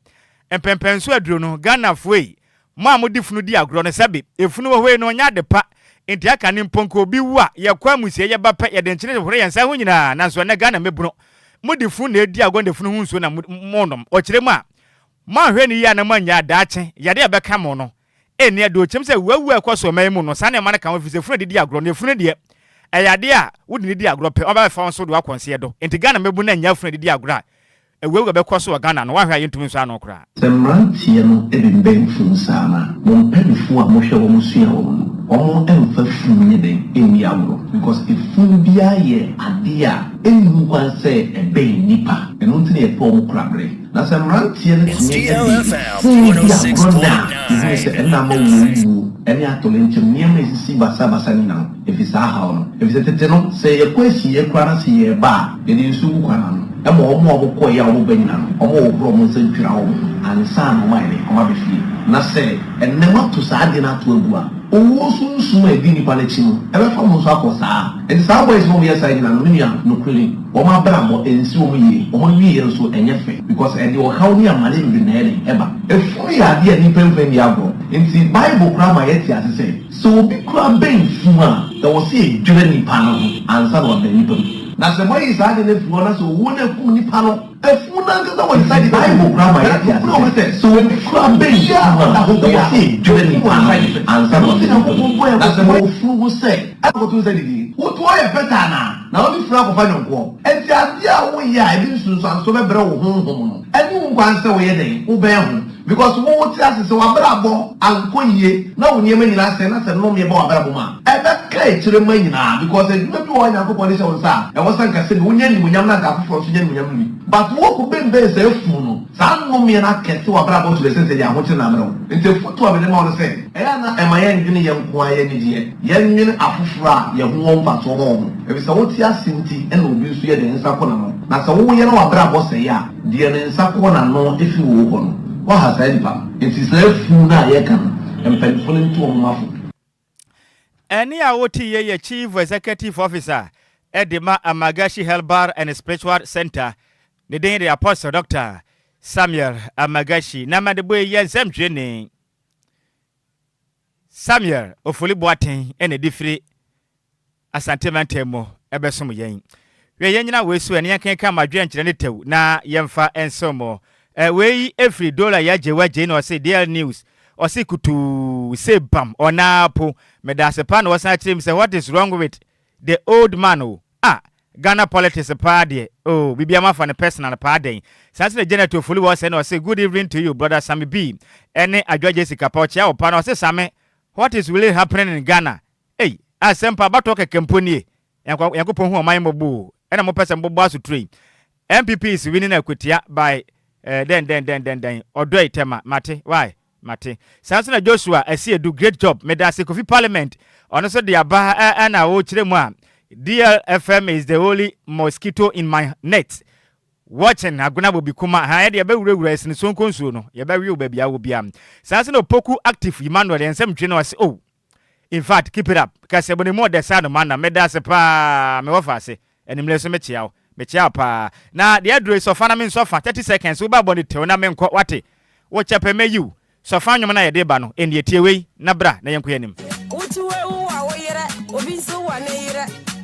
Mpɛnpɛnso aduro no, Ghanafoɔ ei, Mo a mode funu di agorɔ no, sɛbe efunu wɔ hɔ yi no nyɛ ade pa, enti aka ne mpo nka obi wu a, yɛkɔ amusiei, yɛba pɛ, yɛde nkyene hohoro yɛn nsa ho nyinaa, nanso ɛnnɛ Ghana mmabunu, mode funu na edi agorɔ na efunu ho nsuo na monom, ɔkyerɛ mu a, moanhwɛ no yie na moannyae a, daakye, yadeɛ a ɛbɛka mo no, ɛnni adeɔkyɛm sɛ wuawu a ɛkɔ so ɔman yi mu no, saa nneɛma no ka ho, ɛfiri sɛ funu a yɛde di agorɔ no, efunu deɛ, ɛyɛ adeɛ a wode no di agorɔ pɛ, wɔbɛfa wo nso de wo akɔ nseɛ do, enti Ghana mmabunu annya funu a yɛde di agorɔ a, Awuawura bɛkɔ so wɔ Ghana no woahwɛ a yɛntumi nsɔ ano koraa. Sɛ mmeranteɛ no de bɛn funu saa no a, mo mpaninfoɔ a mohwɛ wɔn sua wɔn no, wɔn mfa funu nyɛ dɛn nni agorɔ because efunu biara yɛ adeɛ a ɛnni ho kwan sɛ ɛbɛn nnipa, ɛno nti na yɛpɛ wɔn kora berɛ. Na sɛ mmeranteɛ no tumi de funu di agorɔ nnɛ a, yɛhunu sɛ ɛnna ama wɔn wuo ne atoyerɛnkyɛm, nneɛma a ɛsisi basabasa nyinaa. Efi saa haw no. Efisɛ tete no, sɛ yɛkɔ asiei koraa na sɛ yɛreba a, yɛde nsu gu kwan ano. Ɛma wɔn a wɔkɔe a wɔba nyinaa no, wɔhohoro wɔn nsa twira wɔn ho ansa na wɔayɛ dɛn? Wɔaba fie. Na sɛ ɛnnɛ moato saa ade no ato agu a, owuo sunsum a edi nnipa no akyi no, ɛbɛfa mo nso akɔ saa ara. Enti saa boys no a wɔyɛ saa nyinaa no, me nua, nokorɛ ni, wɔn abrabɔ, ɛnsi wɔn yie. Wɔn awieeɛ nso, ɛnyɛ fɛ, because ɛde ɔhaw ne amane bebree na ɛyɛ dɛn? Ɛba. Funu yɛ adeɛ a nnipa mfa nni agorɔ. Enti Bible koraa ma yɛte ase sɛ, Sɛ obi kura bɛn funu a, ɛwɔ sɛ edwira nipa no ho ansa na wabɛn nipa no. Na sɛ moayi saa ade no afiri hɔ na sɛ owuo no akum nipa no a, funu no ankasa wɔ ne nsa nifa fam. Bible koraa ma yɛte ase sɛ, sɛ obi kura bɛn funu a, ɛwɔ sɛ edwira nipa no ho ansa na wabɛn nipa no. Na sɛ mowɔ funu ho sɛ, ɛnkɔto nsa didi, wotoɔ a ɛyɛ pɛtɛ anaa? Na wode funu akɔfa nyɔnkoɔ? Enti adeɛ a woyɛ a ɛde nsunsuansoɔ bɛbrɛ wo honhom no, ɛne wo nkwa ara sɛ woyɛ dɛn? Wobɛn ho. Because wo wo te ase sɛ w'abrabɔ ankɔ yie na wo nneɛma nyinaa sɛe na sɛ nnome ba w'abrabɔ mu a, ɛbɛka akyire mma nyinaa because adwuma bi wɔ hɔ a Nyankopɔn de hyɛ wo nsa a ɛwɔ sɛ anka sɛdeɛ wonya animuonyam no anka afoforɔ nso nya animuonyam no bi. But wo ko benben saa afunu no, saa nnomeɛ no akɛse w'abrabɔ to the extent sɛ deɛ ahokyere na abrɛ wo. Nti afotuo a mede ma wo no sɛ, ɛyɛ a na ɛma yɛndwene yɛn nko ara yɛn anideɛ, yɛnwene afoforɔ a yɛn ho wɔ mfasoɔ ma wɔn. Ɛfiri sɛ wo te ase nti na obi nso yɛ dɛn? Nsa ko n'ano. Na sɛ wo wo yɛ na w'abrabɔ sɛe a, Deɛ ne nsa kɔ n'ano ɛfiri wo hɔ no, woaha saa nipa no. Enti saa funu no a yɛreka no, mpanyinfoɔ no nto wɔn mma fo. Ɛnne a woteeɛ yɛ Chief Executive Officer de ma Amagashi Health Bar and Spiritual Centre, ne din de Apostle Doctor Samuel Amagashi, na mede bɔ eyi nsɛmtwerɛni. Samuel Ofori Boateng na ɛde firi Asante mantam mu ɛbɛsom yɛn. Hwɛ yɛnyina wei so ɛ na yɛnkenkan ma adwene nkyerɛ ne tɛw na yɛmfa nsom mo. Ɛ wei ɛfiri Dola Yaa Gyei Waa Gyei na ɔse Dail News ɔse kutuu se bam ɔnaa po. Medaase paa na wɔsan kyerɛ mu sɛ what is wrong with the old man o. Ah Ghana politics paa deɛ oh biribiara mo afa no personal paa dɛn saa nso na Janet Ofori wɔ sɛɛ na ɔse good evening to you brother Same B ɛne Adwoa Gyesi Kappa ɔkyea wo paa na ɔse Same what is really happening in Ghana ei asɛm paa abatoɔ kɛkɛ mpo nie Nyank Nyankopɔn hu ɔman yi mmɔbɔ o ɛna mo pɛ sɛ mo bobɔ asoturo yi NPP is winning akwatia by eh dɛn dɛn dɛn dɛn dɛn ɔdɔ yi tɛma mate why Mate. Saa nso na Joshua Asiedu, great job. Medase Kofi Parliament, ɔno nso de aba ɛ na ɔrekyerɛ mu a, DLFM is the only mosquito in my net, watching Agona Bobikuma, ahaa yɛde yɛbɛwurawura ɛsene Sonko nsuo no, yɛbɛwe wo baabi a wɔ biara. Saa nso na Opoku Active Emmanuel, yɛn nsɛm ntwe no ase o. In fact keep it up kɛse bɔ ne mu ɔdɛ saa no ma nam meda ase paa me wɔfa ase animire nso me kyea wo me kyea wo paa na deɛ aduro yi sɔfa na me nsɔ fa thirty seconds wo ba bɔ ne tew na me nkɔ wate wo kyɛ pɛ mɛ yiw sɔfa nnwom na yɛde ba no ɛnnie tie wei na bra na yɛnkɔ yɛnim. Wotu awu a wo yerɛ obi nso wa ne yerɛ.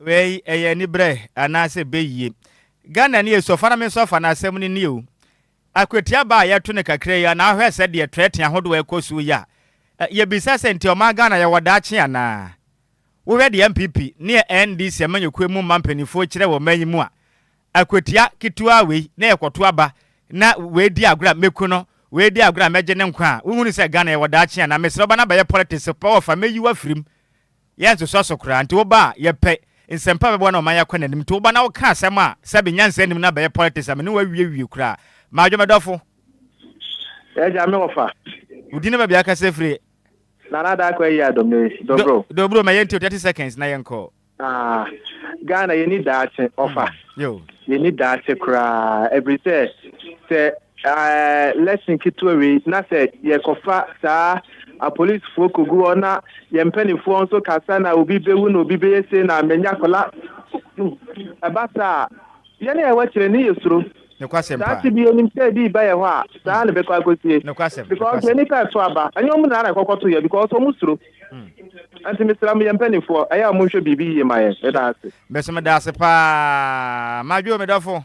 Wei ɛyɛ anibrɛ anaasɛ beyie? Ghana ni so fa na me nso fa na asɛm no ni o. Akwatia ba a yɛto no kakra yi a na hwɛ sɛ deɛ trɛte ahodoɔ a ɛkɔ so yi a yɛbisa sɛ nti ɔman Ghana yɛwɔ daakye anaa? Wohwɛ deɛ NPP ne NDC amanyɔkuo mu mma mpaninfoɔ kyerɛ wɔ ɔman yi mu a akwatia ketewaa wei na yɛkɔto aba na wei di agorɔ a mɛku no wei di agorɔ a mɛgye ne nkwa a wonhunu sɛ Ghana yɛwɔ daakye anaa? Mesrɛ wo ba no abɛyɛ politics pɛ wɔfa mɛyi wo afiri mu. Yɛnsoso so koraa. Nti woba a, yɛpɛ nsɛmpa a ɛbɛboa na ɔman yi akɔ n'anim. Nti woba na woka asɛm a sɛbe nyansa nnim na abɛyɛ politics a, me ne wo awie wie koraa. Madwo me dɔfo. Yɛ gya me wɔfa. Wo din ne baabi a wokasa afiri. Nana Daako ayi adom ne Dobro. Dobro ma yɛntie wo 30 seconds na yɛnkɔ. Ah, Ghana yɛni daakye, ɔfa. Yo. Yenni daakye koraa, ɛfiri sɛ, sɛ ɛɛ lesson ketewa wei na sɛ yɛkɔfa saa apolisifoɔ kɔgu hɔ na yɛn mpanimfoɔ nso ka sa na obi bɛwu na obi bɛyɛ sei na manya kola ɛba saa a yɛn a yɛwɔ akyire ne yɛ suro Nokwasɛm saa paa. te bi yɛnim sɛ ebi ba yɛ hɔ a saa na ɛbɛkɔ akɔsie Nokwasɛm, because nokwasɛm. yɛn nipa ɛso aba ɛnyɛ ɔmo nyinaa na ɛkɔkɔto yɛ because ɔmo suro Nti mesrɛ mo yɛn mpaninfoɔ ɛyɛ a monhwɛ biribi yie ma yɛn meda ase. Mese meda ase paa madwo me dɔfo.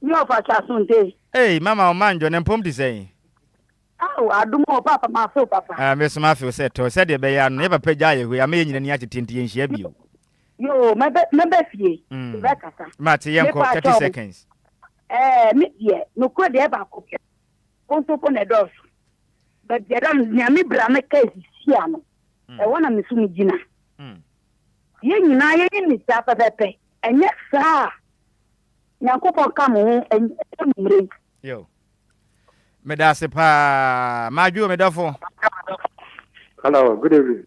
Me ɔfa kye asonte. Ei mama wo manjo ne mpom te sɛn. Ao adom o paapa mafe wo papa. Ah me so mafe wo sɛ tɔ sɛdeɛ ɛbɛyɛ ano yɛ papa gyaa yɛ hɔ yi ama yɛ nyina ani akyete nti yɛnhyia bio. Yoo mɛbɛ mɛbɛ fie mm bɛ kasa. Mate yɛnkɔ 30 seconds. Ɛɛ me deɛ nokorɛ deɛ ɛbaako pɛ. Kotoko na ɛdɔɔso. Baabiara no, nea me bra no kaa hyihyia no, ɛhɔ na me nso migyina. Yɛn nyinaa yɛyɛ ne saa pɛpɛpɛ, ɛnyɛ saa a, Nyankopɔn ka mo ho ɛnyɛ mo mmerɛ yi. Meda ase paa. Madwo, me dɔfo. Hello, good evening.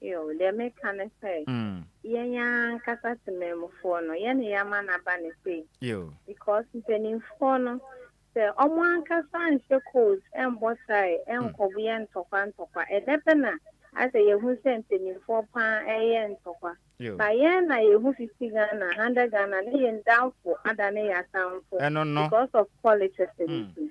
Yiw, deɛ meka ne sɛ, yɛn ara ankasa temanmufoɔ no, yɛn na yɛama no aba no sei. Because mpanimfoɔ no, sɛ wɔn ankasa anhyɛ codes, ɛmmɔ tae, ɛnkɔbo yɛ ntɔkwa ntɔkwa, ɛdɛ pɛ na ayɛ sɛ yɛhu sɛ mpanimfoɔ pa ara reyɛ ntɔkwa. But yɛn na yɛhu fiti Ghana ha, ndɛ Ghana ne yɛn damfo adane yɛn atamfo because of politics no nti.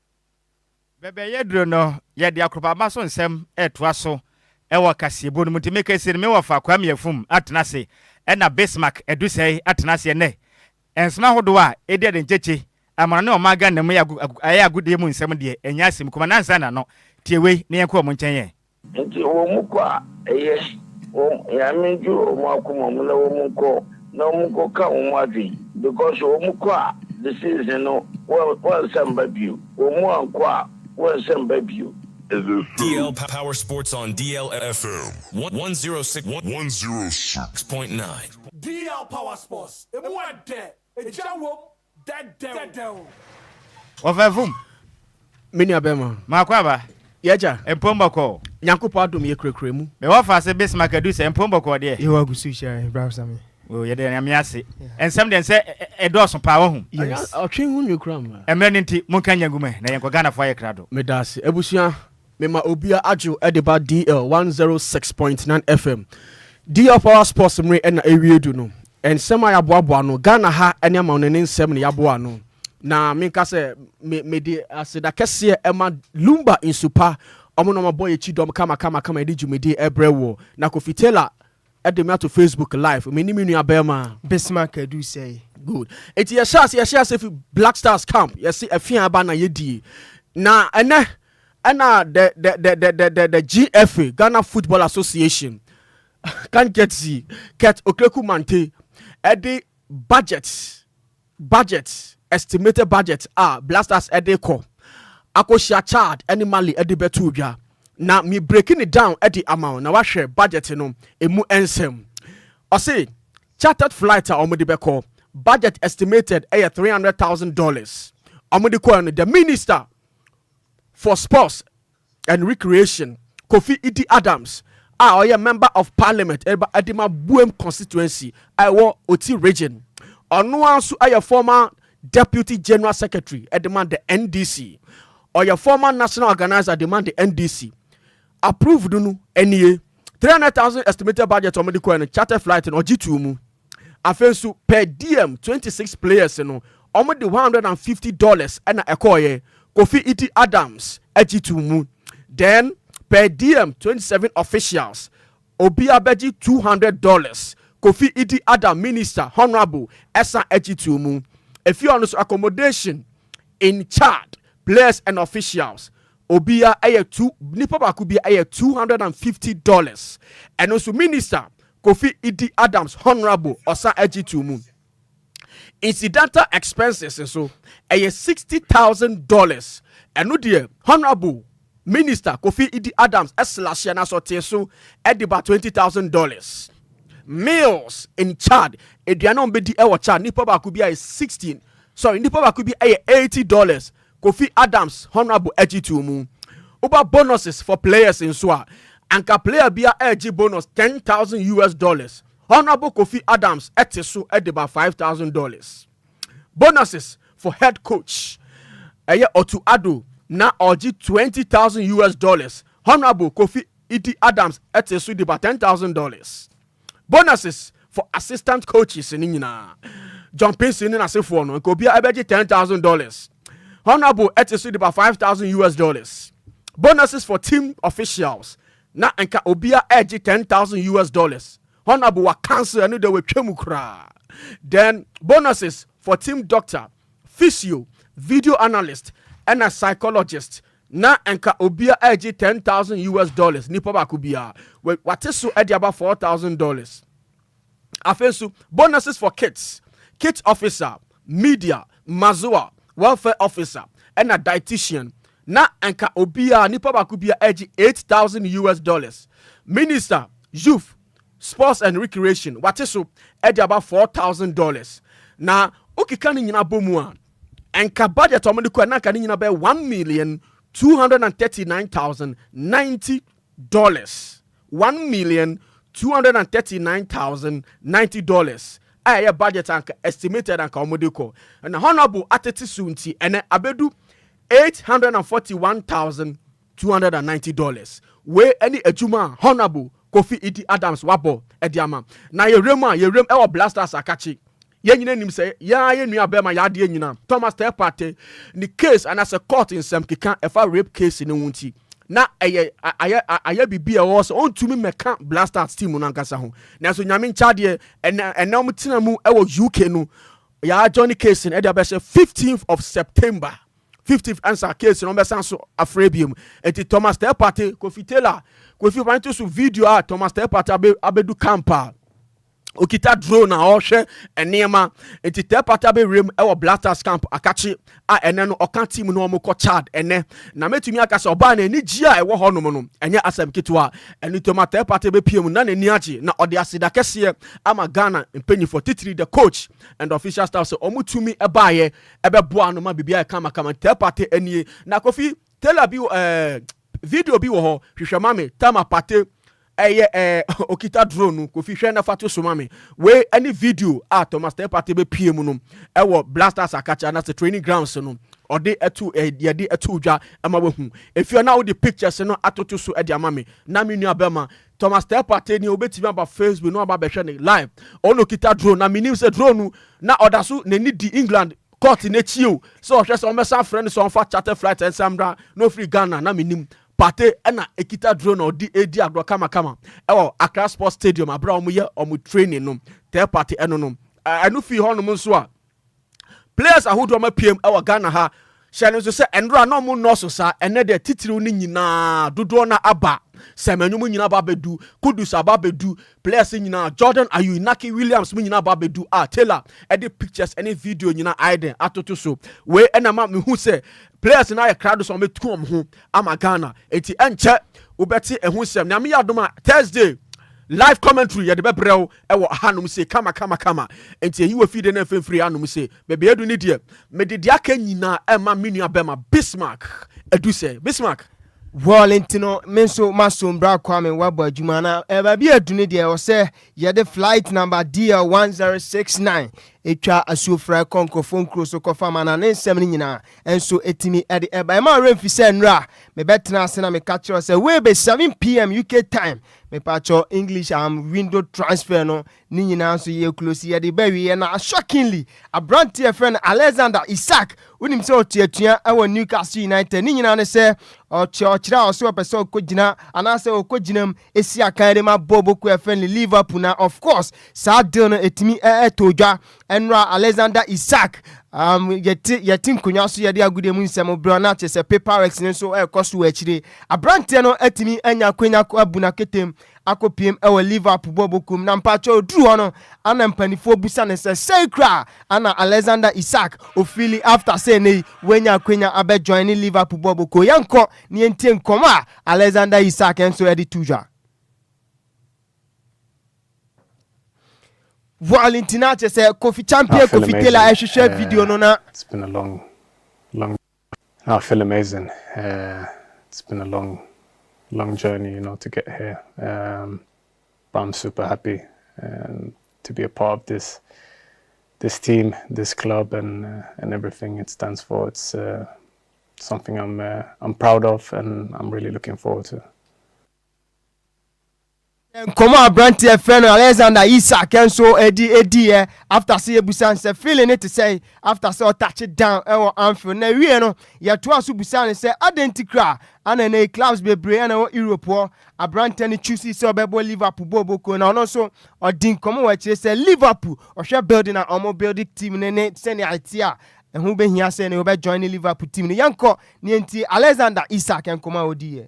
Bɛbɛyɛ duru no, yɛde Akorobaba so nsɛm retoa so wɔ kaseɛbɔ no mu. Nti meka sie no, me wɔfa Kwame Afum atena ase ɛna Bismark Adusɛe atena aseɛ nnɛ. Nsɛm ahodoɔ a ɛdi ade nkyekye amana ne ɔman Ghana mu yɛ agodie mu nsɛm deɛ ɛnyɛ asɛm kuma. Nansa na no, tie wei na yɛnkɔ wɔn nkyɛn ɛ. Enti wɔkɔ a, ɛyɛ wɔn Nyame ndwuro wɔn akoma mu na wɔnkɔ na wɔnkɔka wɔn adwen because wɔkɔ a disease no wɔnsa mba bio, wɔn ankɔ a wɔnsa mba bio. Is it true? DL Power Sports on DL FM 106.9. DL Power Sports, emu ɛdɛ, egya wom. dɛdɛw. Wɔfɛ fom. Me nua bɛma. Maako aba. Yɛgya. Mpom bɔkɔɔ. Nyankopɔn adom yɛ kurakura mu. Me wɔ faase bes ma kadu sɛ mpom bɔkɔɔ deɛ. Yehowa gu so hyira yɛn bra sa me. Oh yɛda Nyame ase. Nsɛm deɛ nsɛ ɛdɔɔso paa wahu. Yes. Ɔtwe ho nwi kura mma. Ɛmrɛ no nti monka nya ngu mɛ na yɛnkɔ Ghana fo ayɛ krado. Meda ase abusua. Mema obia adwo de ba DL one zero six point nine FM DL power sports mmere ɛna ɛwie du no nsɛm a yaboaboa ano Ghana ha ɛne amanɔne ne nsɛm na yaboa ano na menka sɛ me mede aseda kɛseɛ ɛma Lumba nsupa ɔmo na ɔmo abɔ yɛkyi dɔm kama kama kama yɛde dwumadi ɛbrɛ woɔ na Kofi Taylor Ɛde me ato Facebook live. Me ne me nua bɛɛma. Bismarck adu sɛɛ. Good. Eti yɛ hyɛ ase yɛ hyɛ ase fi Black Stars camp yɛ se ɛfi aba na yɛ die. Na ɛnɛ ɛna the the the the the the, the GFA Ghana Football Association kan get zi Kurt Okreku Mante ɛde budget Budget, Estimated budget a Blasters de rekɔ akɔhyia Chad ne Mali de bɛtoo dwa. Na me breaki no down de ama wo na woahwɛ budget no ɛmu nsɛm. Ɔse chartered flight a wɔde bɛkɔ, budget estimated yɛ three hundred thousand dollars. Wɔde kɔɛ no, the minister for sports, and Recreation, Kofi Idi Adams, a ɔyɛ Member of Parliament ɛreba Adima Buem Constituency a ɛwɔ Oti Region. Ɔno ara nso yɛ former Deputy General Secretary de ma the NDC. Ɔyɛ former National Organizer de ma the NDC. Approved no nie, 300,000 estimated budget wɔn de kɔɛ no, charter flight no ɔgye too mu. Afei nso per diem twenty six players no wɔn de one hundred and fifty dollars ɛna ɛkɔɔyɛ Kofi Iti Adams agye to mu then per diem twenty seven officials obia bɛgye two hundred dollars Kofi Iti Adam minister honourable ɛsan agye to mu efie ɔno nso accommodation in Chad players and officials Obia ɛyɛ two nipa baako bia ɛyɛ two hundred and fifty dollars ɛno nso minister Kofi Idi Adams Honourable ɔsan ɛgye too mu incidental expenses nso ɛyɛ sixty thousand dollars ɛno deɛ Honourable minister Kofi Idi Adams ɛslahyɛ n'asɔteɛ so ɛde ba twenty thousand dollars meals in Chad aduane a wɔn bɛdi ɛwɔ Chad nipa baako bia ɛyɛ sixteen sorry nipa baako bi ɛyɛ eighty dollars Kofi Adams honourable attitude mu woba bonuses for players nso a, anka player biara regye bonus ten thousand US dollars, honourable Kofi Adams te so de ba five thousand dollars. Bonuses for head coach, ɛyɛ Otto Addo na ɔregye twenty thousand US dollars, honourable Kofi Idi Adams te so de ba ten thousand dollars. Bonuses for assistant coaches ne nyinaa. John Pinson ne n'asefoɔ no, nka obiara ɛbɛgye ten thousand dollars. Honourable ɛte so de ba five thousand US dollars. Bonuses for team officials na nka obiara ɛgye ten thousand US dollars. Honourable wa cancel ɛno de watwa mu koraa. Then bonuses for team doctor, physio, video analyst ɛna psychologist Na nka obia ɛregye ten thousand US dollars nipa baako biara wɛ wate so ɛde aba four thousand dollars afei nso bonuses for kits kit officer media mazoa welfare officer ɛna dietitian na nka obia nipa baako biara ɛregye eight thousand US dollars minister youth sports and recreation wate so ɛde aba four thousand dollars na okeka ne nyinaa bɔ mu a Anka budget a wɔde kɔɛ no anka ne nyina bɛyɛ one million two hundred and thirty nine thousand ninety dollars one million two hundred and thirty nine thousand ninety dollars a ɛyɛ budget anka estimated anka wɔde kɔ na honourable atete so nti ɛnɛ abedu eight hundred and forty one thousand two hundred and ninety dollars wei ɛne adwuma a honourable kofi idi adams wabɔ ɛde ama na yɛwura mu a yɛwura mu ɛwɔ blasters akakye Yɛn nyinaa nim sɛ yɛn ara yɛn nua barima yɛ adeɛ nyina. Thomas Telpate ne case anaasɛ court nsɛm keka ɛfa rape case no ho nti na ɛyɛ ayɛ ayɛ biribi a ɛwɔ sɛ ɔntumi mmɛka Black Stars team no ankasa ho. Nanso Nyame nkyɛ adeɛ ɛnɛ ɛnɛ wɔn tena mu ɛwɔ UK no yɛ adjourn case no ɛde abɛhyɛ 15th of September 15th ansa case no wɔn bɛsan so afrɛ biom. Enti Thomas Telpate, Kofi Taylor, Kofi Opanyinto so video a Thomas Telpate abɛ abɛdu camp a Okita drone a ɔrehwɛ nneɛma. Nti Tɛ Pata bɛwuram wɔ Blasters camp Akakye a ɛnɛ no ɔka team no wɔkɔ Chad ɛnɛ. Na mɛtumi aka sɛ ɔbaa no anigyeɛ a ɛwɔ hɔnom no ɛnyɛ asɛm ketewa. Ɛno nti ɔma Tɛ Pata bɛpue mu na n'ani agye na ɔde aseda kɛseɛ ama Ghana mpanyinfoɔ titiri the coach and the official staff sɛ wɔtumi baeɛ bɛboaa no ma biribiara yɛ kamakama. Tɛ Pata nie. Na Kofi Tell Abiw ɛɛ. Video bi wɔ hɔ hwehwɛ ma me Tama Partey ɛyɛ ɛɛ okita drone no Kofi hwɛ na fa to so ma me wei ɛne video a Thomas Teh Partey bɛ pie mu no ɛwɔ Blasters Akakye anase training grounds no ɔde ɛto yɛde ɛto dwa ɛma wahu efie na wode pictures no atoto so ɛde ama me na me nua bɛma Thomas Teh Partey ni obetumi aba Facebook na ɔba bɛhwɛ ne live ɔno okita drone na menim sɛ drone no na ɔda so n'ani di England Court no akyi o, sɛ ɔhwɛ sɛ ɔmmɛsan afrɛ no sɛ ɔmfa charter flight nsan mmra na ɔfiri Ghana na mennim. Partey na ɛkita drone a ɔde redi agorɔ kamakama wɔ Accra Sports Stadium berɛ a wɔyɛ wɔn training no. Third party ɛno no. Ɛno fii hɔnom nso a, players ahodoɔ ma piem wɔ Ghana ha hyɛ no nso sɛ ɛnora na wɔn nnɔɔso saa, ɛnɛ deɛ titiriw no nyinaa dodoɔ no aba. Sɛmɛnwom nyinaa aba abɛdu, Kudus aba abɛdu, Players yi nyinaa, Jordan Ayew, Inaki Williams mo nyinaa ba bɛdu a Taylor ɛde pictures ɛne video nyinaa ayɛ dɛn atoto so. Wei ɛna ma mehu sɛ players no ayɛ krado sɛ wɔbɛtu wɔn ho ama Ghana. Enti ɛnkyɛ wobɛte ɛho nsɛm. Nyame yɛ adom a Thursday live commentary yɛde bɛbrɛ wo ɛwɔ ahanom se kama kama kama. Enti ɛyi wɔ fide na mfimfiri anom se baabi adu ne deɛ. Mede deɛ aka nyinaa ɛma me nua bɛma Bismarck Adusɛ. Bismarck. Well nti no me nso masom bra Kwame wabɔ adwuma na eh, baabi a ɛdu no deɛ ɛwɔ sɛ yɛde flight number DL 1069 ɛtwa asuofra ɛkɔ nkurɔfoɔ nkuro so kɔfa ma na ne nsɛm no nyinaa nso ɛtumi ɛde ɛba ɛma werɛ mfi sɛ nnura mebɛtena ase na meka kyerɛ sɛ wei bɛ 7 pm UK time mepaakyɛw English am window transfer no Ne nyinaa nso yɛ close yɛde ba wieɛ na shockingly aberanteɛ yɛfrɛ no Alexander Isak wonim sɛ ɔte atua ɛwɔ Newcastle United ne nyinaa ne sɛ ɔkyɛ ɔkyerɛ a ɔsɛ ɔpɛ sɛ ɔkɔgyina anaasɛ ɔkɔgyina mu ɛsi akan de ma bɔɔbo ko yɛfrɛ no Liverpool na of course saa deal no ɛtumi ɛtɔ dwa ɛnora Alexander Isak um, yɛte yɛte nkonnwa so yɛde agudeɛ mu nsɛm berɛ na kyerɛ sɛ paperworks no nso ɛrekɔ so wɔ akyire aberanteɛ no atumi anya akwanya abu n'aketem akɔpiem wɔ Liverpool bɔɔlbɔkuo mu na mpakyɛw ɔduru hɔ no ana mpanifoɔ busa no sɛ sei koraa ana Alexander Isak ɔfeeli after sɛ ɛnɛ yi wanya akwanya abɛ joine Liverpool bɔɔlbɔkuo. Yɛnkɔ na yɛntie nkɔmmɔ a Alexander Isak nso ɛde to dwa. Voil nti na kyɛ sɛ Kofi Champion Kofi Taylor ɛhwehwɛ video no na. Haa I feel amazing it's been a long long journey you know to get here um but I'm super happy um to be a part of this this team this club and and everything it stands for it's uh, something I'm uh, I'm proud of and I'm really looking forward to. Nkɔmmɔ a aberanteɛ a yɛfrɛ no Alexander Isak nso ɛdi ɛdiiɛ after sɛ yɛbusa no sɛ feeling ne te sɛ after sɛ ɔtache down ɛwɔ Anfield na ɛwieɛ no yɛtoa so busaa no sɛ adɛn nti koraa ana ɛnɛ yi clubs bebree ɛna ɛwɔ Europe hɔ aberanteɛ no choose sɛ ɔbɛbɔ Liverpool bɔɔ bɔkuo na ɔno nso ɔdi nkɔmmɔ wɔ akyire sɛ Liverpool ɔhwɛ building a ɔmo build team no ne sɛnea ɛte a ɛho bɛhia sɛ ɛnɛ ɔbɛ join Liverpool team no yɛnkɔ na yɛntie Alexander Isak nkɔmmɔ a ɔdiiɛ.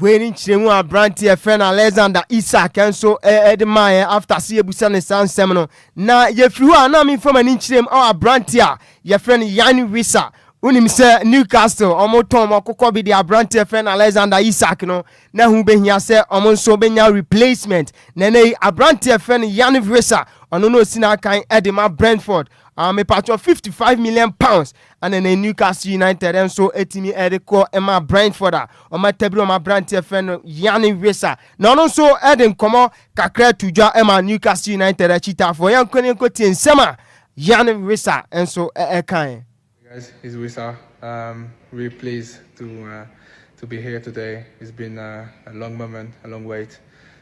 Wei ne nkyerɛmu a aberanteɛ a yɛfrɛ no Alexander Isaac nso de maeɛ. After sɛ yɛbisa no saa nsɛm no, na yɛfiri hɔ a na memfa m'ani nkyerɛ mu. Ɔ aberanteɛ a yɛfrɛ no Yanni Wissa. Wonim sɛ Newcastle wɔtɔn wɔn akokɔ bi de aberanteɛ a yɛfrɛ no Alexander Isaac no, na ɛho bɛhia sɛ wɔn nso bɛnya replacement. Na ɛnnɛ yi, aberanteɛ a yɛfrɛ no Yanni Wissa, ɔno na ɔsi n'akan de ma Brentford. Aa mepatwɔ, 55 million pounds Ɛna na Newcastle United nso atumi de kɔ ma Brentford a wɔatabiri wɔn aberanteɛ fɛ no Yanni Wissa na ɔno nso de nkɔmmɔ kakra to dwa ma Newcastle United akyitaafoɔ. Yɛnkɔ ne yɛnkɔ tie nsɛm a Yanni Wissa nso ɛkae. Guys, it's Wissa. Um, really pleased to uh, to be here today. It's been uh, a long moment, a long wait,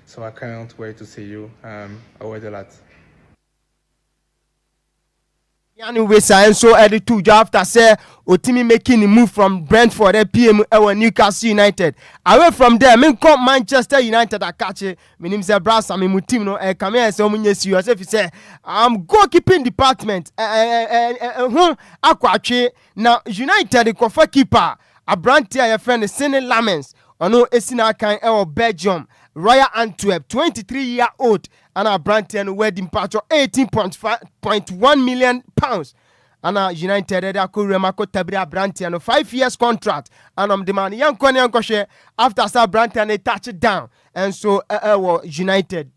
so I can't wait to see you. Um, I wait a lot. Yann Wissa nso de too dwa after sɛ otumi make ne move from Brentford apue mu wɔ Newcastle United. Away from there, menkɔ Manchester United akakye. Menim sɛ bra sa me mu team no ɛka me ayɛ sɛ wɔn nyɛ serious efisɛ um, goalkeeping department ho akɔ atwe na United kɔfa keeper aberante a yɛfrɛ no Senne Lammens ɔno esi n'akan wɔ Belgium Royal Antwerp, 23 year old Ana abranteɛ no wadi mpatsɔ eighteen point five point one million pounds ana United ɛde akɔ wuram akɔ tabiri abranteɛ no five years contract ana ɔmo de maa no yɛnkɔ ne yɛnkɔhwɛ after sɛ abranteɛ no touch down ɛnso ɛwɔ United.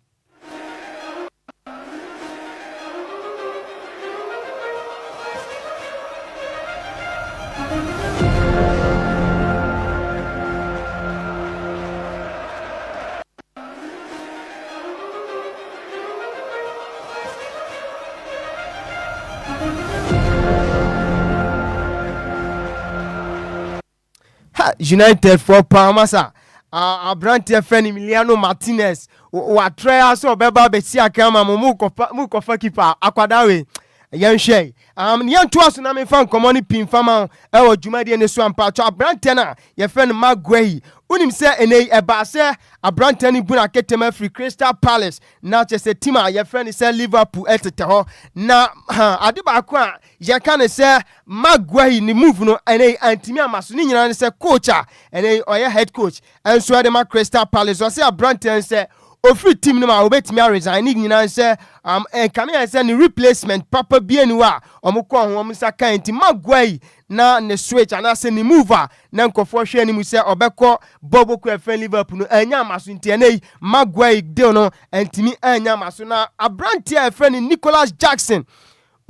ha united foɔ paa ma sa aberanteɛ fɛ no miliano martinez watrɛ a sɛ ɔbɛba bɛsi akra ma mo mokɔfa kipa akwadaa wei yɛnhwɛ Um nea ntoa so na memfa nkɔmmɔ no pii mfa ma wo wɔ dwumadie no so a, mpakyɛ aberanteɛ no a yɛfrɛ no Mark Guehi, wonim sɛ ɛnɛ yi ɛbaa sɛ aberanteɛ no bu n'aketem afiri Crystal Palace na kyɛ sɛ tim a yɛfrɛ no sɛ Liverpool ɛtetɛ hɔ na ha ade baako a yɛka ne sɛ Mark Guehi ne move no ɛnɛ yi antumi ama so ne nyinaa ne sɛ coach a ɛnɛ yi ɔyɛ head coach Nso ɛde ma Crystal Palace ɔse abranteɛ no sɛ ɔfiri team no mu a ɔbɛtumi a resign ne nyinaa nsɛ am ɛka ne yɛn sɛ ne replacement papa bi ani hɔ a wɔn kɔɔ ho wɔn nsa kae nti Maguire na ne switch anaasɛ ne move a na nkɔfoɔ hwɛ anim sɛ ɔbɛkɔ bɔ bɔku ɛfɛn Liverpool no annya ama so nti ɛnɛ yi Maguire deal no antumi annya ama so na abranteɛ a ɛfrɛ no Nicolas Jackson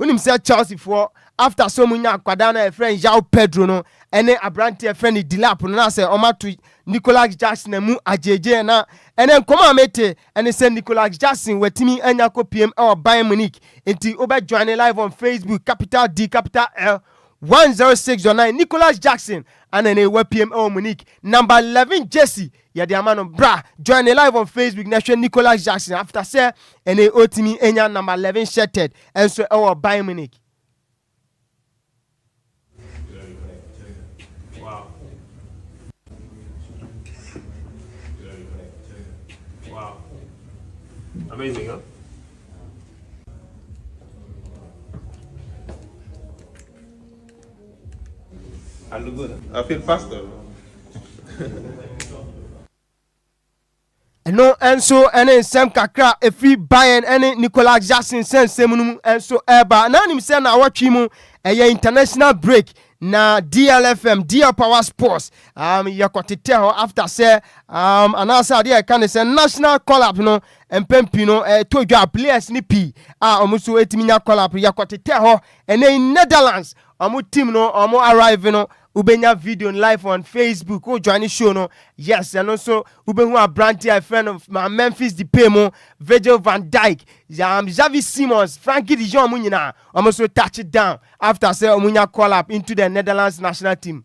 Wonim sɛ Chelseafoɔ after so ɔmo nya akwadaa no a yɛfrɛ no João Pedro no ɛne aberanteɛ a yɛfrɛ no Delap no na sɛ ɔmo ato Nicolas Jackson amu agyegyeɛ na ɛnɛ nkɔmɔ a mete ɛne sɛ Nicolas Jackson watumi anya akɔpiem ɛwɔ Bayern Munich nti wobɛ joine live on Facebook capital D capital L 106.9 Nicolas Jackson ana ɛnɛ wapiem ɛwɔ Munich number 11 jersey Yɛde ama no. Bra, join ne live on Facebook na hwɛ Nicolas Jackson after sɛ ɛne otumi anya number 11 shirted ɛnso ɛwɔ Bayern Munich. Amazing, huh? Ɛno nso ne nsɛm kakra a ɛfiri Bayern ne Nicolas Jackson nsɛnsɛm no mu nso ɛreba. Na anim sɛ na awɔtwe mu ɛyɛ international break na DLFM DL Power Sports um, yɛkɔtetɛ hɔ after sɛ um, anaasɛ adeɛ a ɛka ne sɛ national collab no mpɛn pii no ɛtɔ dwa players ne pii a wɔn nso ɛtumi nya collab yɛkɔtetɛ hɔ Ɛnɛ yi Netherlands ɔmo team no ɔmo arrive no wobɛnya video no live on Facebook wo joine show no yes ɛno nso wobɛhu aberanteɛ a ɛfrɛ no ma Memphis Depay mo Virgil van Dijk um, Xavi Simons Frankie de Jong mo nyinaa ɔmo nso touch down after sɛ ɔmo nya call up into the Netherlands national team.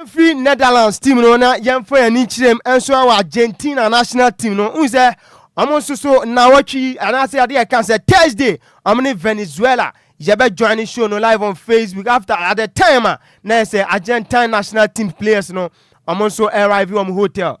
Yɛmfiri Netherlands team no na yɛmfa yɛn ani nkyerɛ mu nso wɔ Argentina national team no. Wohu sɛ wɔn nso so nnawɔtwe yi anaasɛ adeɛ ɛka sɛ Thursday wɔn ne Venezuela yɛbɛ join ne show no live on Facebook after at the time a na yɛ sɛ Argentine national team players no wɔn nso arrive wɔn hotel.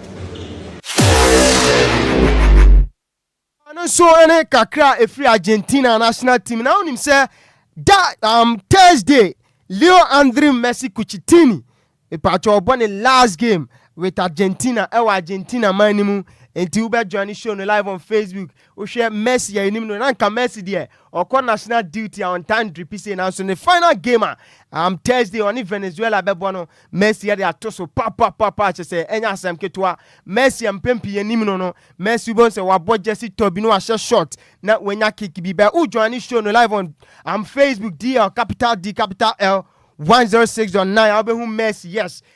Ɔno nso ne kakra a ɛfiri Argentina national team na wonim sɛ da um, Thursday Leo Andre Messi Cucitini mepakyɛ ɔbɔ ne last game with Argentina ɛwɔ Argentina man no mu nti wobɛjoin ne show no live on Facebook Wohwɛ Messi yɛ enim no na nka Messi deɛ ɔkɔ national duty a ɔntaa ndri pi sei nanso ne final game a am Thursday ɔne Venezuela bɛbɔ no Messi ɛde ato so papapapa kyɛ sɛ ɛnyɛ asɛm ketewa Messi a mpɛn pii yɛ nim no no Messi wobɛhu sɛ wabɔ gyɛsi tɔ bi na wahyɛ short na wanya kick bi bɛ wo join ne show no live on am Facebook DL capital D capital L 106.9 a wobɛhu Messi yes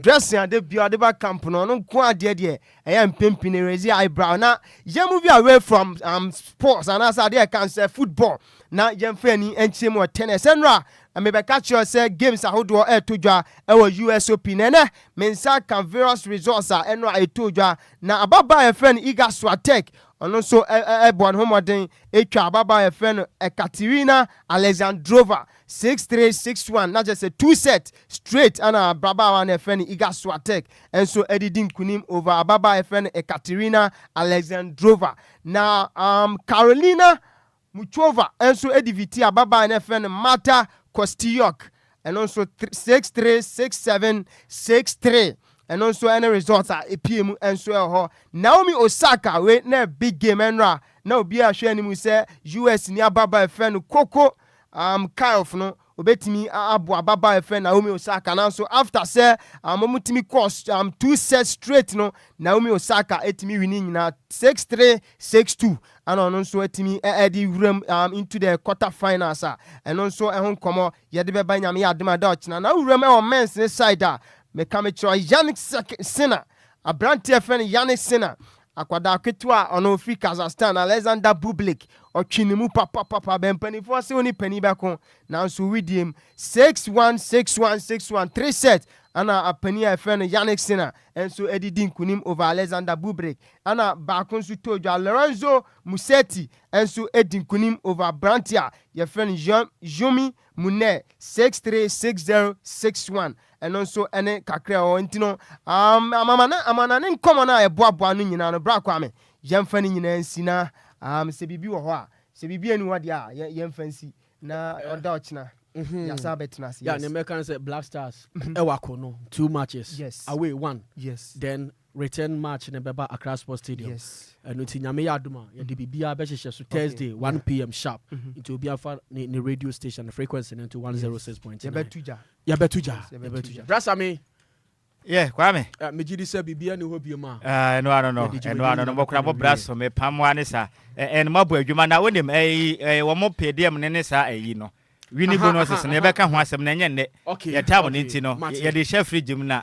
Dressing a da biara ɔde ba camp no ɔno nko ara deɛ deɛ ɛyɛ mpempini raise your eyebrow na yɛn move away from um, sports anaasɛ adeɛ a ɛka no sɛ football na yɛmfa yɛn ani nkyerɛ mu wɔ tennis ɛnora mebɛka kyerɛ sɛ games ahodoɔ ɛreto dwa ɛwɔ USOP na ɛnɛ me nsa ka various resource a ɛnora ɛtoo dwa na ababaa a yɛfrɛ no Iga Swiatek ɔno nso ɛbɔ ne ho mmɔden ɛtwa ababaa a yɛfrɛ no Ekaterina Alexandrova Six three six one, na kyerɛ sɛ two set straight ɛna abrabaawa no a yɛfrɛ no Iga Swiatek nso ɛde di nkunim over ababaa a yɛfrɛ no Ekaterina Alexandrova. Na um, Karolina Muchova nso ɛdiviti ababaa no a yɛfrɛ no Marta Kostyuk, ɛno nso thr- six three six seven six three ɛno nso ɛne results a ɛpie mu nso ɛwɔ hɔ. Naomi Osaka wei na big game ɛnora na obiara hwɛ anim sɛ US ni ababaa a yɛfrɛ no Coco Um kind of no obetumi aboa ababaa ɛfɛ Naomi Osaka nanso after sɛ um wɔn tumi kɔ um two set straight no Naomi Osaka etumi wini nyinaa six three six two ɛna ɔno nso etumi ɛde wuram um into the quarter finals a ɛno nso ɛho nkɔmɔ yɛde bɛba nyame yɛ adum ada ɔkyena na wuram ɛwɔ men's ne side a meka mekyerɛ Yannick Sinner aberante ɛfɛ no Yannick Sinner Akwadaa ketewa a ɔno ɔfiri Kazakhstan, Alexander Bublik, ɔtwe ne mu papapapa bɛn mpanimfoɔ se wo ne panin bɛko, nanso wedeɛ mu, six one, six one, six one, three sets, ɛna panin a yɛfrɛ no Jannik Sinner nso de di nkunim over Alexander Bublik, ɛna baako nso tɔɔ dwa, Lorenzo Musetti nso di nkunim over aberanteɛ a yɛfrɛ no Xiaomi mu nnɛ, six three six zero six one, ɛno nso ɛne kakra ɛwɔ hɔ nti no, um, amamana amana ne nkɔmɔ no a ɛboaboa no nyinaa no, bra kwame, yɛmfa no nyinaa nsi na um, sɛ biribi wɔ hɔ a, sɛ biribi ani hɔ deɛ a, yɛmfa nsi na ɔda ɔkyena Mm-hmm. yasa abɛtena ase. Yeah, yes. ne mɛka sɛ Black Stars ɛwɔ mm-hmm. akɔ no two matches yes. away one yes. then return match no bɛba Accra Sports Stadium. Yes. Ɛno nti Nyame yɛ adom a, yɛde mm-hmm. biribiara bɛhyehyɛ so Thursday, okay. 1 yeah. pm sharp. Mm -hmm. Nti obiara fa ne, ne radio station, ne frequency no nto 106.9. Yes. Yɛbɛtu gya. Yɛbɛtu gya. Yɛbɛtu gya. Brasa me. Yeah, Kwame. Uh, me gidi sɛ biribiara ne hɔ bi ma. Uh, no, no, no. Ɛno ano no, mɔkora mɔ bra so, me pamoa ne saa. Ɛno mabɔ adwuma na wonim, ɛyi, ɛyi, wɔn pɛdeɛm ne ne saa ɛyi no wini bonus no yɛbɛka ho asɛm na ɛnyɛ nnɛ yɛtaa mo no nti no yɛde hyɛ fridge mu na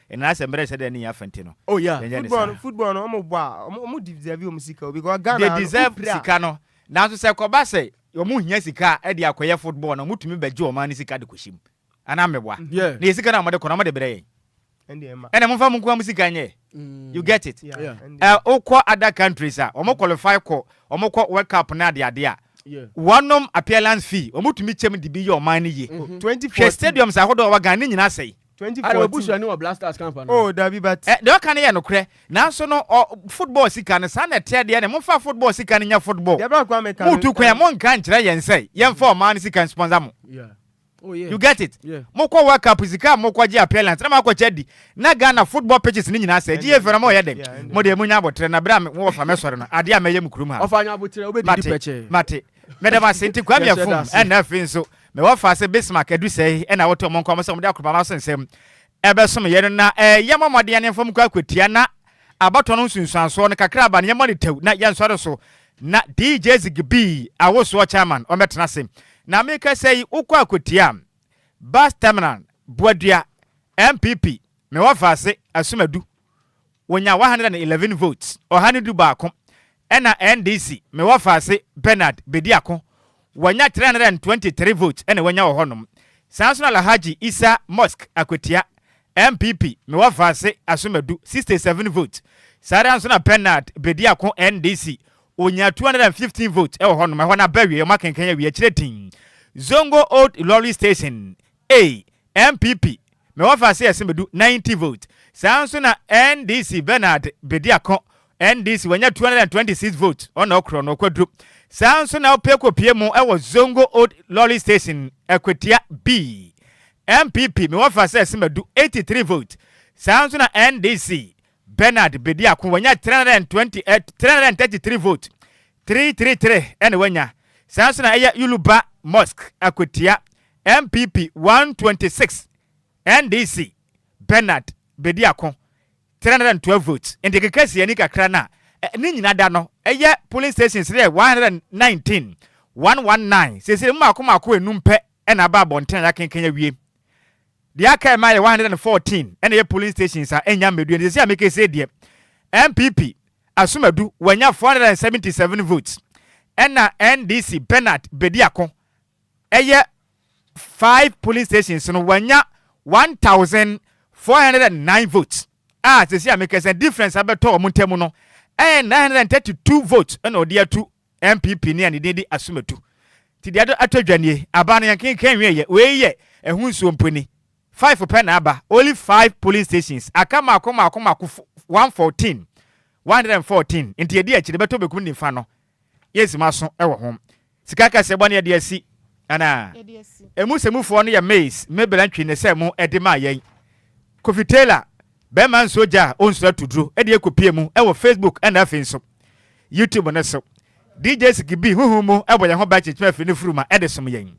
Enana sɛ mbrɛ sɛdɛ ne nya fɛ ntsi no, Oh yeah, yɛnnyɛ ne football no saa. football no wɔn bɔ a wɔn wɔn deserve wɔn sika o because Ghana They ha no deserve wopira a. sika no, nanso sɛ ɛkɔba sɛ wɔn hia sika a ɛde akɔyɛ football na wɔtumi bɛgye wɔn ano sika de kɔhyɛ mu anaa meboa? Yeah. Na yɛ sika no a wɔde kɔ no wɔde brɛ yɛn. Ɛnde ɛma. Ɛna momfa mo nkoa mo sika nyɛ. You get it? Yeah, Yeah. ɛnde. Ɛ, wokɔ other countries a wɔn qualify kɔ wɔn kɔ world cup ne adeade a Yeah. wɔnom appearance fee wɔn tumi kyɛm de bi yɛ ɔman no yie. Twenty hwɛ fourteen. stadiums ahodoɔ a ɛwɔ ghana ne nyinaa sɛe Ara w'abusuani wɔ Black Stars camp anaa? Oh dabi but. Ɛ deɛ ɔka no yɛ nokorɛ nanso no ɔ football sika no saa na ɛteɛ deɛ ne momfa football sika no nyɛ football Deɛ bra koraa meka no motu kwan a ɛɛ. monka nkyerɛ yɛn sɛ yɛmfa ɔman no sika nsponsor mo Yeah. Oh yeah. you get it Yeah. mokɔ world cup sika a mokɔgye appellants na moakɔkyɛ adi na Ghana football pitches no nyinaa sɛe ɛgye yɛ Ɛndeɛ, fɛ na moyɛ dɛn yeah, ɛndeɛ. modeɛ monya aboterɛ na berɛ a me wɔfa mɛsɔre no adeɛ a mɛyɛ mo kurom ha no Ɔfa anya aboterɛ wobɛdidi mate pɛkyɛɛ. mate Meda mo ase. Nti Kwame afum ɛna afei nso me wɔfa sɛ Bismarck adu sɛe ɛna wɔte ɔmo nkɔmɔ sɛ ɔmo de akropama so nsɛm ɛbɛsom yɛn no na ɛɛ yɛmmɔ mmɔden ɛne mfam nkɔ akɔtia na abatoɔ no nsunsuansoɔ no kakra aba no yɛmmɔ no tɛw na yɛnsɔre so na DJ Zigibee awosoɔ chairman ɔmmɛtena ase na meka sɛ yi wokɔ akɔtia Bus Terminal Boadua NPP me wɔfa ase Asumadu Wɔnyaa 111 votes, ɔha ne du baako, ɛna NDC, Me Wɔfaase Bernard, bɛdi ako, wanya 323 votes na wanya wɔ hɔnom. Saa nso na Alhaji Isa Musk, Akwatia, NPP, Me Wɔfaase Asomadu, 67 votes. Saa ara nso na Bernard bɛdi ako, NDC, ɔnyaa 215 votes wɔ hɔnom. Ɛhɔ no abɛwieɛ, wɔakenkan awie, akyire din, Zongo Old Ilorin Station, Ei NPP me wɔfa se ɛse medu 90 vote saa nso na NDC Bernard bedi ako NDC wanya 226 vote ɔna ɔkorɔ no ɔkwaduro saa nso na ɔpɛ kɔ pie mo ɛwɔ Zongo old lorry station ɛkwatia bii NPP me wɔfa se ɛse madu 83 vote saa nso na NDC Bernard bedi ako, wanya 328 333 vote, 333 na wanya. Saa nso na ɛyɛ Yuluba Mosque akwatia, NPP 126, NDC, Bernard bedi ako, 312 votes. Nti kekasiani kakra no a ne nyina da no ɛyɛ polling stations no yɛ 119, 119. Seesei mu mmaako mmaako enum pɛ na aba abɔnten a yɛakenkan awie. Deɛ aka ɛma yɛ one hundred and fourteen ɛna ɛyɛ polling stations a ɛnya mmɛdue no sɛsɛ a meka sei deɛ NPP Asumadu wanya four hundred and seventy seven votes ɛna NDC Bernard Bediako ɛyɛ five polling stations no wanya one thousand four hundred and nine votes a sɛsɛ a meka sɛ difference abɛtɔ wɔn ntam no ɛyɛ nine hundred and thirty two votes ɛna ɔde atu NPP ni a ne din de Asumatu. Nti deɛ ado atɔ dwa nie. Aba no yɛnkenkan nwieɛ. Wei yɛ ɛho nsuo mpo ni. Five pɛ na aba. Only five polling stations. Aka mmaako mmaako mmaako fo one fourteen. One hundred and fourteen. Nti ɛdi akyire bɛtɔ bekum nifa no. Yes moaso wɔ ho. Sika kɛseɛ bɔ ne yɛde asi anaa? Ɛmu sɛmufoɔ no yɛ Maize, Mebel Antwi ne sɛ mo ɛde maa yɛn. Kofi Taylor. Bɛrima nsuo gya a ɔnsuro atuduro de akɔpie mu wɔ Facebook na afei nso YouTube no so. DJ Sikibi honhom mu bɔ yɛn ho ban kyekyem afiri no furuma de som yɛn.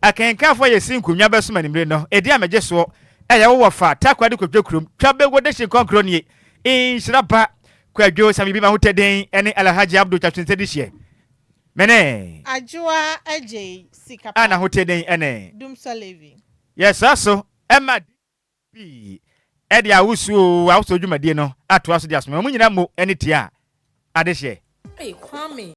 Akenkanfoɔ a yɛsi nkonnwa bɛsom anwummere no, ɛdi a megye soɔ a yɛwɔ wɔ fa Tarkwa de kɔtwa kurom twa bɛwɔ Dehye Nkɔnkoro nie. Nhyira pa. Kwadwo Sammy Bima Hutedin ne Alhaji Abdul Kyatwensɛ de hyɛ me ne. Adwoa Agyei, Sika Pa. Anna Hutedin ne. Dumsor Levi. Yɛsra so ma. pii de awosu o, awosu dwumadie no atoa so de asome wɔn nyinaa mo ani tia adehyeɛ. Ei Kwame